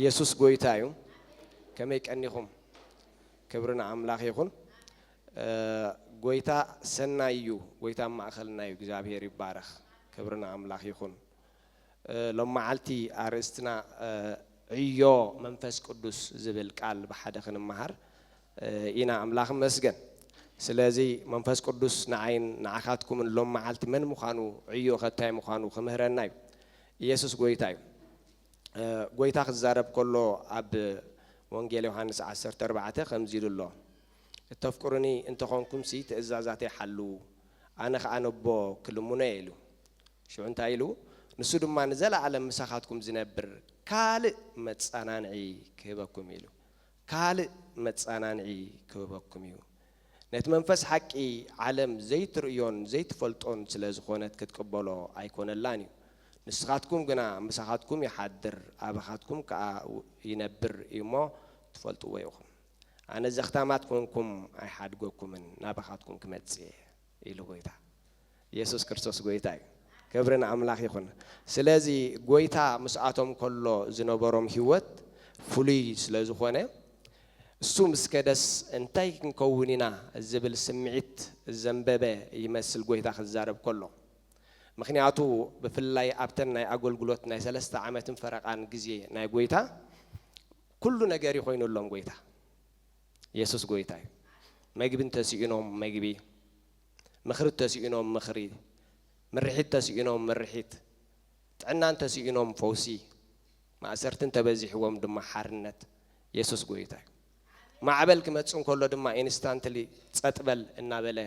ኢየሱስ ጎይታ እዩ። ከመይ ቀኒኹም? ክብሪ ንኣምላኽ ይኹን። ጎይታ ሰናይ እዩ። ጎይታ ኣብ ማእኸልና እዩ። እግዚኣብሔር ይባረኽ። ክብሪ ንኣምላኽ ይኹን። ሎም መዓልቲ ኣርእስትና ዕዮ መንፈስ ቅዱስ ዝብል ቃል ብሓደ ክንመሃር ኢና ኣምላኽ ይመስገን ስለዚ መንፈስ ቅዱስ ንዓይን ንዓካትኩምን ሎም መዓልቲ መን ምኳኑ ዕዮ ከ ታይ ምኳኑ ክምህረና እዩ ኢየሱስ ጎይታ እዩ ጎይታ ክዛረብ ከሎ ኣብ ወንጌል ዮሃንስ ዓሰርተ ኣርባዕተ ከምዚ ኢሉ ኣሎ እተፍቅሩኒ እንተኾንኩምሲ ትእዛዛተይ ሓልዉ ኣነ ከኣ ነቦ ክልምኖ እየ ኢሉ ሽዑ እንታይ ኢሉ ንሱ ድማ ንዘለኣለም ምሳኻትኩም ዝነብር ካልእ መጻናንዒ ክህበኩም ኢሉ ካልእ መጻናንዒ ክህበኩም እዩ ነቲ መንፈስ ሓቂ ዓለም ዘይትርእዮን ዘይትፈልጦን ስለ ዝኾነት ክትቅበሎ ኣይኮነላን እዩ ንስኻትኩም ግና ምሳኻትኩም ይሓድር ኣባኻትኩም ከኣ ይነብር እዩ እሞ ትፈልጥዎ ኢኹም ኣነ ዘኽታማት ኮንኩም ኣይሓድገኩምን ናባኻትኩም ክመጽእ እየ ኢሉ ጎይታ የሱስ ክርስቶስ ጎይታ እዩ ክብሪ ንኣምላኽ ይኹን ስለዚ ጎይታ ምስኣቶም ከሎ ዝነበሮም ህይወት ፍሉይ ስለ ዝኾነ እሱ ምስ ከደስ እንታይ ክንከውን ኢና ዝብል ስምዒት ዘንበበ ይመስል ጎይታ ክዛረብ ከሎ ምኽንያቱ ብፍላይ ኣብተን ናይ ኣገልግሎት ናይ ሰለስተ ዓመትን ፈረቓን ግዜ ናይ ጎይታ ኩሉ ነገር እዩ ኮይኑሎም ጎይታ የሱስ ጎይታ እዩ መግቢ እንተስኢኖም መግቢ ምኽሪ እተሲኢኖም ምኽሪ፣ ምርሒት እተሲኢኖም ምርሒት፣ ጥዕና እንተሲኢኖም ፈውሲ፣ ማእሰርቲ እንተበዚሕዎም ድማ ሓርነት። የሱስ ጎይታ እዩ። ማዕበል ክመጽእ እንከሎ ድማ ኢንስታንትሊ ጸጥ በል እናበለ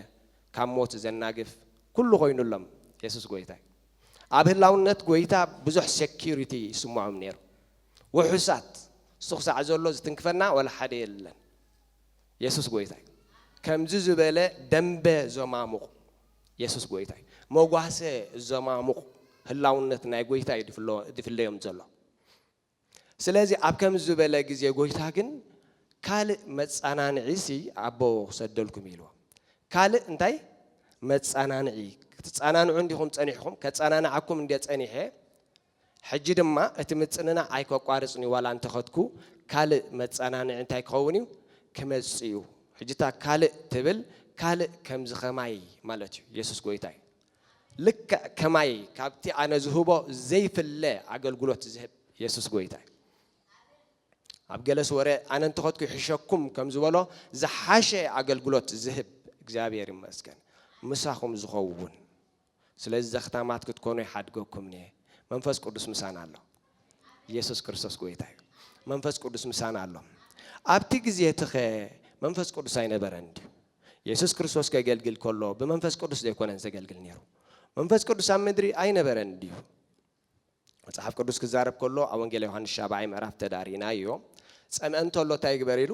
ካብ ሞት ዘናግፍ ኩሉ ኮይኑሎም። የሱስ ጎይታ እዩ። ኣብ ህላውነት ጎይታ ብዙሕ ሴኩሪቲ ይስምዖም ነይሩ። ውሑሳት። እሱ ክሳዕ ዘሎ ዝትንክፈና ዋላ ሓደ የለን። የሱስ ጎይታ እዩ ከምዚ ዝበለ ደምበ ዘማሙቕ የሱስ ጎይታ እዩ መጓሰ ዘማሙቕ ህላውነት ናይ ጎይታ እዩ ድፍለዮም ዘሎ ስለዚ ኣብ ከምዚ ዝበለ ግዜ ጎይታ ግን ካልእ መጻናንዒ ሲ ኣቦ ክሰደልኩም ኢልዎ ካልእ እንታይ መጻናንዒ ክትጻናንዑ እንዲኹም ጸኒሕኹም ከጻናንዓኩም እንዴ ጸኒሐ ሕጂ ድማ እቲ ምጽንናዕ ኣይከቋርጽን'ዩ ዋላ እንተኸድኩ ካልእ መጸናንዒ እንታይ ክኸውን'ዩ ክመጽእ'ዩ ሕጂ እታ ካልእ ትብል ካልእ ከምዚ ከማይ ማለት'ዩ የሱስ ጎይታ'ዩ ልክዕ ከማይ ካብቲ ኣነ ዝህቦ ዘይፍለ ኣገልግሎት ዝህብ የሱስ ጎይታ'ዩ ኣብ ገለስ ወረ ኣነ እንተኸድኩ ይሕሸኩም ከም ዝበሎ ዝሓሸ ኣገልግሎት ዝህብ እግዚኣብሔር ይመስገን ምሳኹም ዝኸውን ስለዚ ዘኽታማት ክትኮኑ ይሓድገኩምንየ መንፈስ ቅዱስ ምሳና ኣሎ ኢየሱስ ክርስቶስ ጎይታ እዩ መንፈስ ቅዱስ ምሳና ኣሎ ኣብቲ ግዜ ትኸ መንፈስ ቅዱስ ኣይነበረን ድዩ ኢየሱስ ክርስቶስ ከገልግል ከሎ ብመንፈስ ቅዱስ ዘይኮነን ዘገልግል ነይሩ መንፈስ ቅዱስ ኣብ ምድሪ ኣይነበረን ድዩ መጽሓፍ ቅዱስ ክዛረብ ከሎ ኣብ ወንጌል ዮሃንስ ሻብዓይ ምዕራፍ ተዳሪናዮ ጸምእ እንተሎ እንታይ ይግበር ኢሉ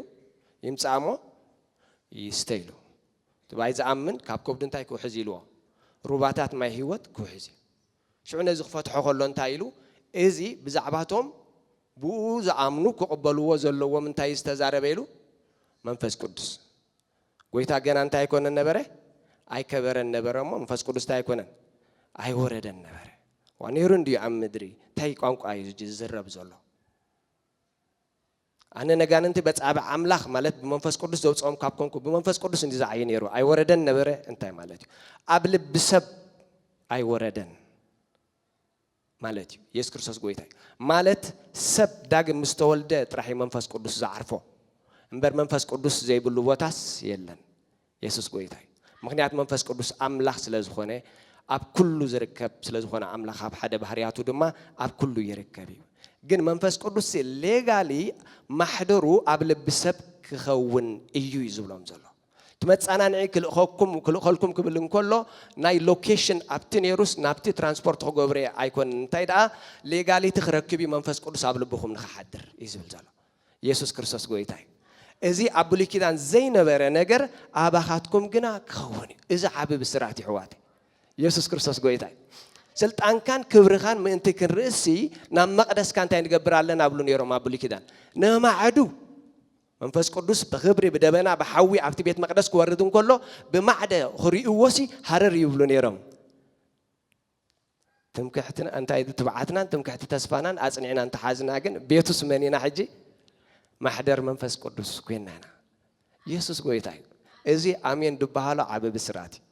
ይምጻእ እሞ ይስተ ኢሉ ትባይ ዝኣምን ካብ ከብዱ እንታይ ክውሕዝ ኢልዎ ሩባታት ማይ ህይወት ክውሕዝ እዩ ሽዑ ነዚ ክፈትሖ ከሎ እንታይ ኢሉ እዚ ብዛዕባቶም ብኡ ዝኣምኑ ክቕበልዎ ዘለዎም እንታይ ዝተዛረበ ኢሉ መንፈስ ቅዱስ ጎይታ ገና እንታይ ኣይኮነን ነበረ? ኣይከበረን ነበረ እሞ መንፈስ ቅዱስ እንታይ ኣይኮነን? ኣይወረደን ነበረ። ዋ ነይሩ እንድዩ ኣብ ምድሪ እንታይ ቋንቋ እዩ ዝዝረብ ዘሎ? ኣነ ነጋንንቲ በጻብዕ ኣምላኽ ማለት ብመንፈስ ቅዱስ ዘውፅኦም ካብ ኮንኩ ብመንፈስ ቅዱስ እንዲ ዝዓዩ ነይሩ ኣይወረደን ነበረ እንታይ ማለት እዩ ኣብ ልቢ ሰብ ኣይወረደን ማለት እዩ የሱስ ክርስቶስ ጎይታ እዩ ማለት ሰብ ዳግም ምስ ተወልደ ጥራሕ እዩ መንፈስ ቅዱስ ዝዓርፎ እምበር መንፈስ ቅዱስ ዘይብሉ ቦታስ የለን የሱስ ጎይታ እዩ ምክንያት መንፈስ ቅዱስ ኣምላኽ ስለ ዝኾነ ኣብ ኩሉ ዝርከብ ስለ ዝኾነ ኣምላኽ ኣብ ሓደ ባህርያቱ ድማ ኣብ ኩሉ ይርከብ እዩ ግን መንፈስ ቅዱስ ሌጋሊ ማሕደሩ ኣብ ልቢ ሰብ ክኸውን እዩ እዩ ዝብሎም ዘሎ እቲ መጻናንዒ ክልእኸኩም ክልእኸልኩም ክብል እንከሎ ናይ ሎኬሽን ኣብቲ ኔሩስ ናብቲ ትራንስፖርት ክገብርየ ኣይኮንን እንታይ ደኣ ሌጋሊቲ ክረክብ እዩ መንፈስ ቅዱስ ኣብ ልብኹም ንክሓድር እዩ ዝብል ዘሎ ኢየሱስ ክርስቶስ ጎይታ እዩ እዚ ኣብ ብሉይ ኪዳን ዘይነበረ ነገር ኣባኻትኩም ግና ክኸውን እዩ እዚ ዓቢ ብስራት ይሕዋት ኢየሱስ ክርስቶስ ጎይታ እዩ ስልጣንካን ክብርኻን ምእንቲ ክንርእሲ ናብ መቕደስካ እንታይ ንገብር ኣለና ብሉ ነይሮም ኣብ ብሉይ ኪዳን ነማዕዱ መንፈስ ቅዱስ ብኽብሪ ብደበና ብሓዊ ኣብቲ ቤት መቕደስ ክወርድ እንከሎ ብማዕደ ክርእይዎሲ ሃረር ይብሉ ነይሮም። ትምክሕትና እንታይ ትብዓትናን ትምክሕቲ ተስፋናን ኣጽኒዕና እንተሓዝና ግን ቤቱስ መን ኢና ሕጂ? ማሕደር መንፈስ ቅዱስ ኮይና ኢና። ኢየሱስ ጎይታ እዩ። እዚ ኣሜን ድበሃሎ ዓብ ብስራት እዩ።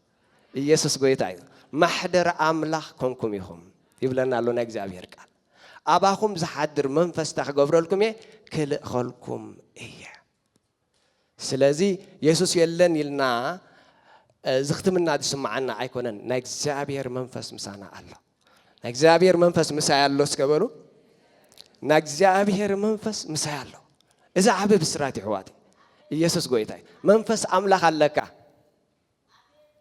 ኢየሱስ ጎይታ እዩ። ማሕደር ኣምላኽ ኮንኩም ኢኹም ይብለና ኣሎ ናይ እግዚኣብሔር ቃል። ኣባኹም ዝሓድር መንፈስ እንታይ ክገብረልኩም እየ? ክልእኸልኩም እየ። ስለዚ የሱስ የለን ኢልና ዝኽትምና ዝስምዓና ኣይኮነን። ናይ እግዚኣብሔር መንፈስ ምሳና ኣሎ። ናይ እግዚኣብሔር መንፈስ ምሳይ ኣሎ እስከ በሉ። ናይ እግዚኣብሔር መንፈስ ምሳይ ኣሎ። እዚ ዓብ ብስራት ይሕዋት ኢየሱስ ጎይታ እዩ መንፈስ ኣምላኽ ኣለካ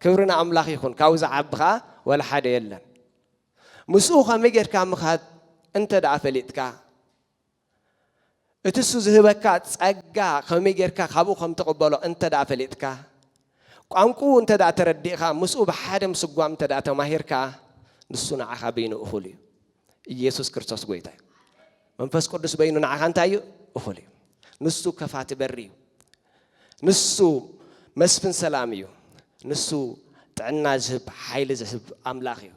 ክብሪ ንኣምላኽ ይኹን ካብኡ ዝዓቢ ከዓ ወላ ሓደ የለን ምስኡ ከመይ ጌርካ ምኻድ እንተ ደኣ ፈሊጥካ፣ እቲ እሱ ዝህበካ ጸጋ ከመይ ጌርካ ካብኡ ከም ትቕበሎ እንተ ደኣ ፈሊጥካ፣ ቋንቁኡ እንተ ደኣ ተረዲእኻ፣ ምስኡ ብሓደ ምስጓም እንተ ደኣ ተማሂርካ፣ ንሱ ንዓኻ በይኑ እኹል እዩ። ኢየሱስ ክርስቶስ ጎይታ እዩ። መንፈስ ቅዱስ በይኑ ንዓኻ እንታይ እዩ እኹል እዩ ንሱ ከፋቲ በሪ እዩ ንሱ መስፍን ሰላም እዩ ንሱ ጥዕና ዝህብ ሓይሊ ዝህብ ኣምላኽ እዩ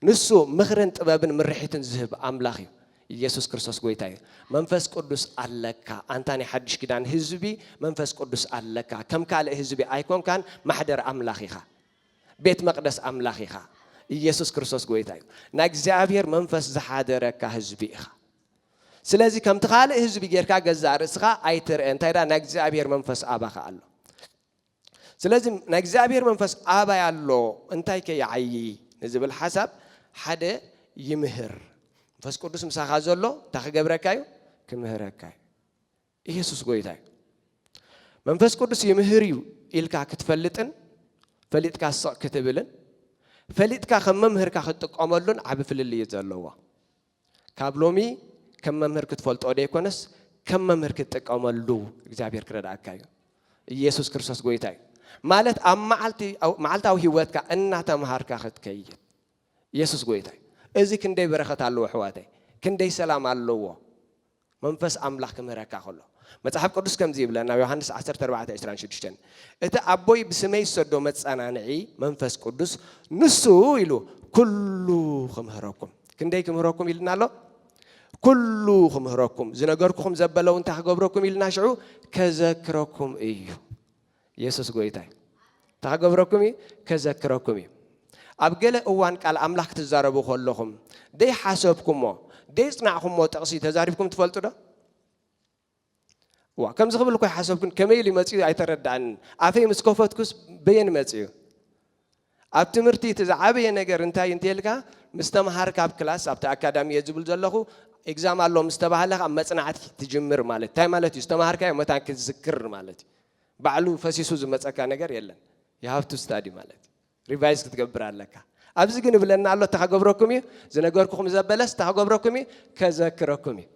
ንሱ ምኽርን ጥበብን ምርሒትን ዝህብ ኣምላኽ እዩ ኢየሱስ ክርስቶስ ጎይታ እዩ መንፈስ ቅዱስ ኣለካ ኣንታ ናይ ሓድሽ ኪዳን ህዝቢ መንፈስ ቅዱስ ኣለካ ከም ካልእ ህዝቢ ኣይኮንካን ማሕደር ኣምላኽ ኢኻ ቤት መቅደስ ኣምላኽ ኢኻ ኢየሱስ ክርስቶስ ጎይታ እዩ ናይ እግዚኣብሔር መንፈስ ዝሓደረካ ህዝቢ ኢኻ ስለዚ ከምቲ ካልእ ህዝቢ ጌርካ ገዛእ ርእስኻ ኣይትርአ እንታይ ዳ ናይ እግዚኣብሔር መንፈስ ኣባኻ ኣሎ ስለዚ ናይ እግዚኣብሔር መንፈስ ኣባይ ኣሎ እንታይ ከ ይዓዪ ንዝብል ሓሳብ ሓደ ይምህር መንፈስ ቅዱስ ምሳኻ ዘሎ እንታይ ክገብረካ እዩ ክምህረካ እዩ ኢየሱስ ጎይታ እዩ መንፈስ ቅዱስ ይምህር እዩ ኢልካ ክትፈልጥን ፈሊጥካ ስቕ ክትብልን ፈሊጥካ ከም መምህርካ ክትጥቀመሉን ዓቢ ፍልልይ እዩ ዘለዎ ካብ ሎሚ ከም መምህር ክትፈልጦ ደይኮነስ ከም መምህር ክትጥቀመሉ እግዚኣብሔር ክረዳእካ እዩ ኢየሱስ ክርስቶስ ጎይታ እዩ ማለት ኣብ መዓልታዊ ህይወትካ እናተምሃርካ ክትከይድ ኢየሱስ ጎይታ እዩ እዚ ክንደይ በረኸት ኣለዎ ኣሕዋተይ ክንደይ ሰላም ኣለዎ መንፈስ ኣምላኽ ኪምህረካ ኸሎ። መጽሓፍ ቅዱስ ከምዚ ይብለን ኣብ ዮሃንስ ዓሰርተ ኣርባዕተ ዕስራን ሽዱሽተን፣ እቲ ኣቦይ ብስመይ ዝሰዶ መጸናንዒ፣ መንፈስ ቅዱስ፣ ንሱ ኢሉ ኩሉ ኺምህረኩም። ክንደይ ኪምህረኩም ኢሉና ኣሎ? ኩሉ ኺምህረኩም፣ ዝነገርኩኹም ዘበለውን እንታይ ኪገብረኩም ኢሉና ሽዑ? ከዘክረኩም እዩ። የሱስ ጎይታ እዩ። እንታይ ክገብረኩም እዩ? ከዘክረኩም እዩ። ኣብ ገለ እዋን ቃል ኣምላኽ ክትዛረቡ ከለኹም ዘይሓሰብኩሞ ዘይጽናዕኩሞ ጥቕሲ ተዛሪብኩም ትፈልጡ ዶ? እዋ ከምዚ ክብል እኮ ይሓሰብኩን ከመይ ኢሉ መጺኡ ኣይተረድኣንን ኣፈይ ምስ ከፈትኩስ በየን መጺኡ ኣብ ትምህርቲ እቲ ዝዓበየ ነገር እንታይ እዩ እንተይልካ ምስ ተምሃርካ ኣብ ክላስ ኣብቲ ኣካዳሚ እየ ዝብል ዘለኹ ኤግዛም ኣሎ ምስ ተባህለ ካብ መፅናዕቲ ትጅምር ማለት እንታይ ማለት እዩ ዝተምሃርካዮ መታን ክትዝክር ማለት እዩ ባዕሉ ፈሲሱ ዝመፀካ ነገር የለን የሃፍቱ ስታዲ ማለት እዩ ሪቫይዝ ክትገብር ኣለካ ኣብዚ ግን እብለና ኣሎ እታ ክገብረኩም እዩ ዝነገርኩኹም ዘበለስ እታ ክገብረኩም እዩ ከዘክረኩም እዩ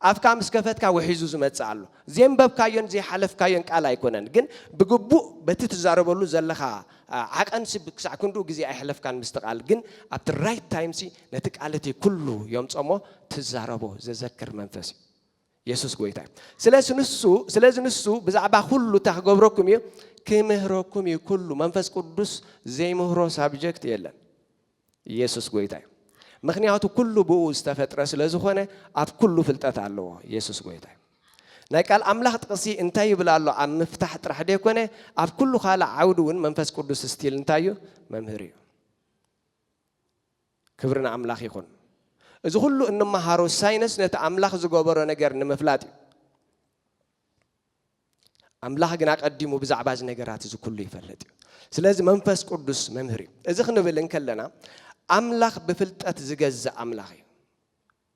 ኣፍካ ምስ ከፈትካ ውሒዙ ዝመጽእ ኣሎ። ዜንበብካዮን ዘይሓለፍካዮን ቃል ኣይኮነን፣ ግን ብግቡእ በቲ ትዛረበሉ ዘለኻ ዓቐንሲ ክሳዕ ክንድኡ ግዜ ኣየሕለፍካን ምስቲ ቃል፣ ግን ኣብቲ ራይት ታይምሲ ነቲ ቃል እቲ ኩሉ ዮምጽኦ እሞ ትዛረቦ ዘዘክር መንፈስ እዩ። የሱስ ጎይታ እዩ። ስለሲ ንሱ ስለዚ ንሱ ብዛዕባ ኩሉ እታ ክገብረኩም እዩ ክምህረኩም እዩ ኩሉ መንፈስ ቅዱስ ዘይምህሮ ሳብጀክት የለን። ኢየሱስ ጎይታ እዩ ምክንያቱ ኩሉ ብኡ ዝተፈጥረ ስለ ዝኾነ ኣብ ኩሉ ፍልጠት ኣለዎ ኢየሱስ ጎይታ እዩ ናይ ቃል ኣምላኽ ጥቕሲ እንታይ ይብል ኣሎ ኣብ ምፍታሕ ጥራሕ ደይኮነ ኣብ ኩሉ ካልእ ዓውዲ እውን መንፈስ ቅዱስ ስቲል እንታይ እዩ መምህር እዩ ክብሪ ንኣምላኽ ይኹን እዚ ኩሉ እንመሃሮ ሳይንስ ነቲ ኣምላኽ ዝገበሮ ነገር ንምፍላጥ እዩ ኣምላኽ ግን ኣቐዲሙ ብዛዕባ እዚ ነገራት እዚ ኩሉ ይፈልጥ እዩ። ስለዚ መንፈስ ቅዱስ መምህር እዩ። እዚ ክንብል እንከለና ኣምላኽ ብፍልጠት ዝገዝእ ኣምላኽ እዩ።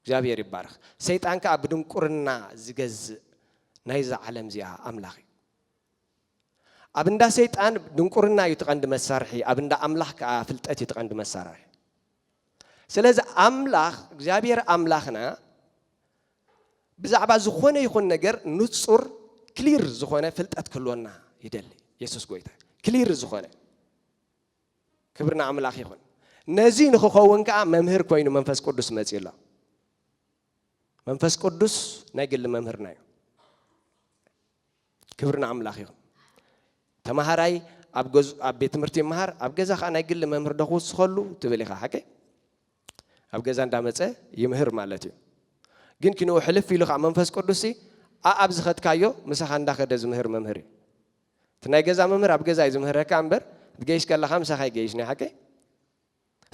እግዚኣብሔር ይባረኽ። ሰይጣን ከዓ ብድንቁርና ዝገዝእ ናይዛ ዓለም እዚኣ ኣምላኽ እዩ። ኣብ እንዳ ሰይጣን ድንቁርና እዩ ትቐንዲ መሳርሒ፣ ኣብ እንዳ ኣምላኽ ከዓ ፍልጠት እዩ ትቐንዲ መሳርሒ። ስለዚ ኣምላኽ እግዚኣብሔር ኣምላኽና ብዛዕባ ዝኾነ ይኹን ነገር ንጹር ክሊር ዝኾነ ፍልጠት ክህልወና ይደሊ የሱስ ጎይታ እዩ ክሊር ዝኾነ ክብሪ ንኣምላኽ ይኹን ነዚ ንክኸውን ከዓ መምህር ኮይኑ መንፈስ ቅዱስ መፅኡ ኣሎ መንፈስ ቅዱስ ናይ ግሊ መምህርና እዩ ክብሪ ንኣምላኽ ይኹን ተምሃራይ ኣብ ቤት ትምህርቲ ይምሃር ኣብ ገዛ ከዓ ናይ ግሊ መምህር ዶ ክውስኸሉ ትብል ኢኻ ሓቀይ ኣብ ገዛ እንዳመጸ ይምህር ማለት እዩ ግን ክንኡ ሕልፍ ኢሉ ከኣ መንፈስ ቅዱስ ሲ ኣኣብ ዝኸድካዮ ምሳኻ እንዳኸደ ዝምህር መምህር እዩ እቲ ናይ ገዛ መምህር ኣብ ገዛ እዩ ዝምህረካ እምበር ትገይሽ ከለኻ ምሳኻ ኣይገይሽ ናይ ሓቀይ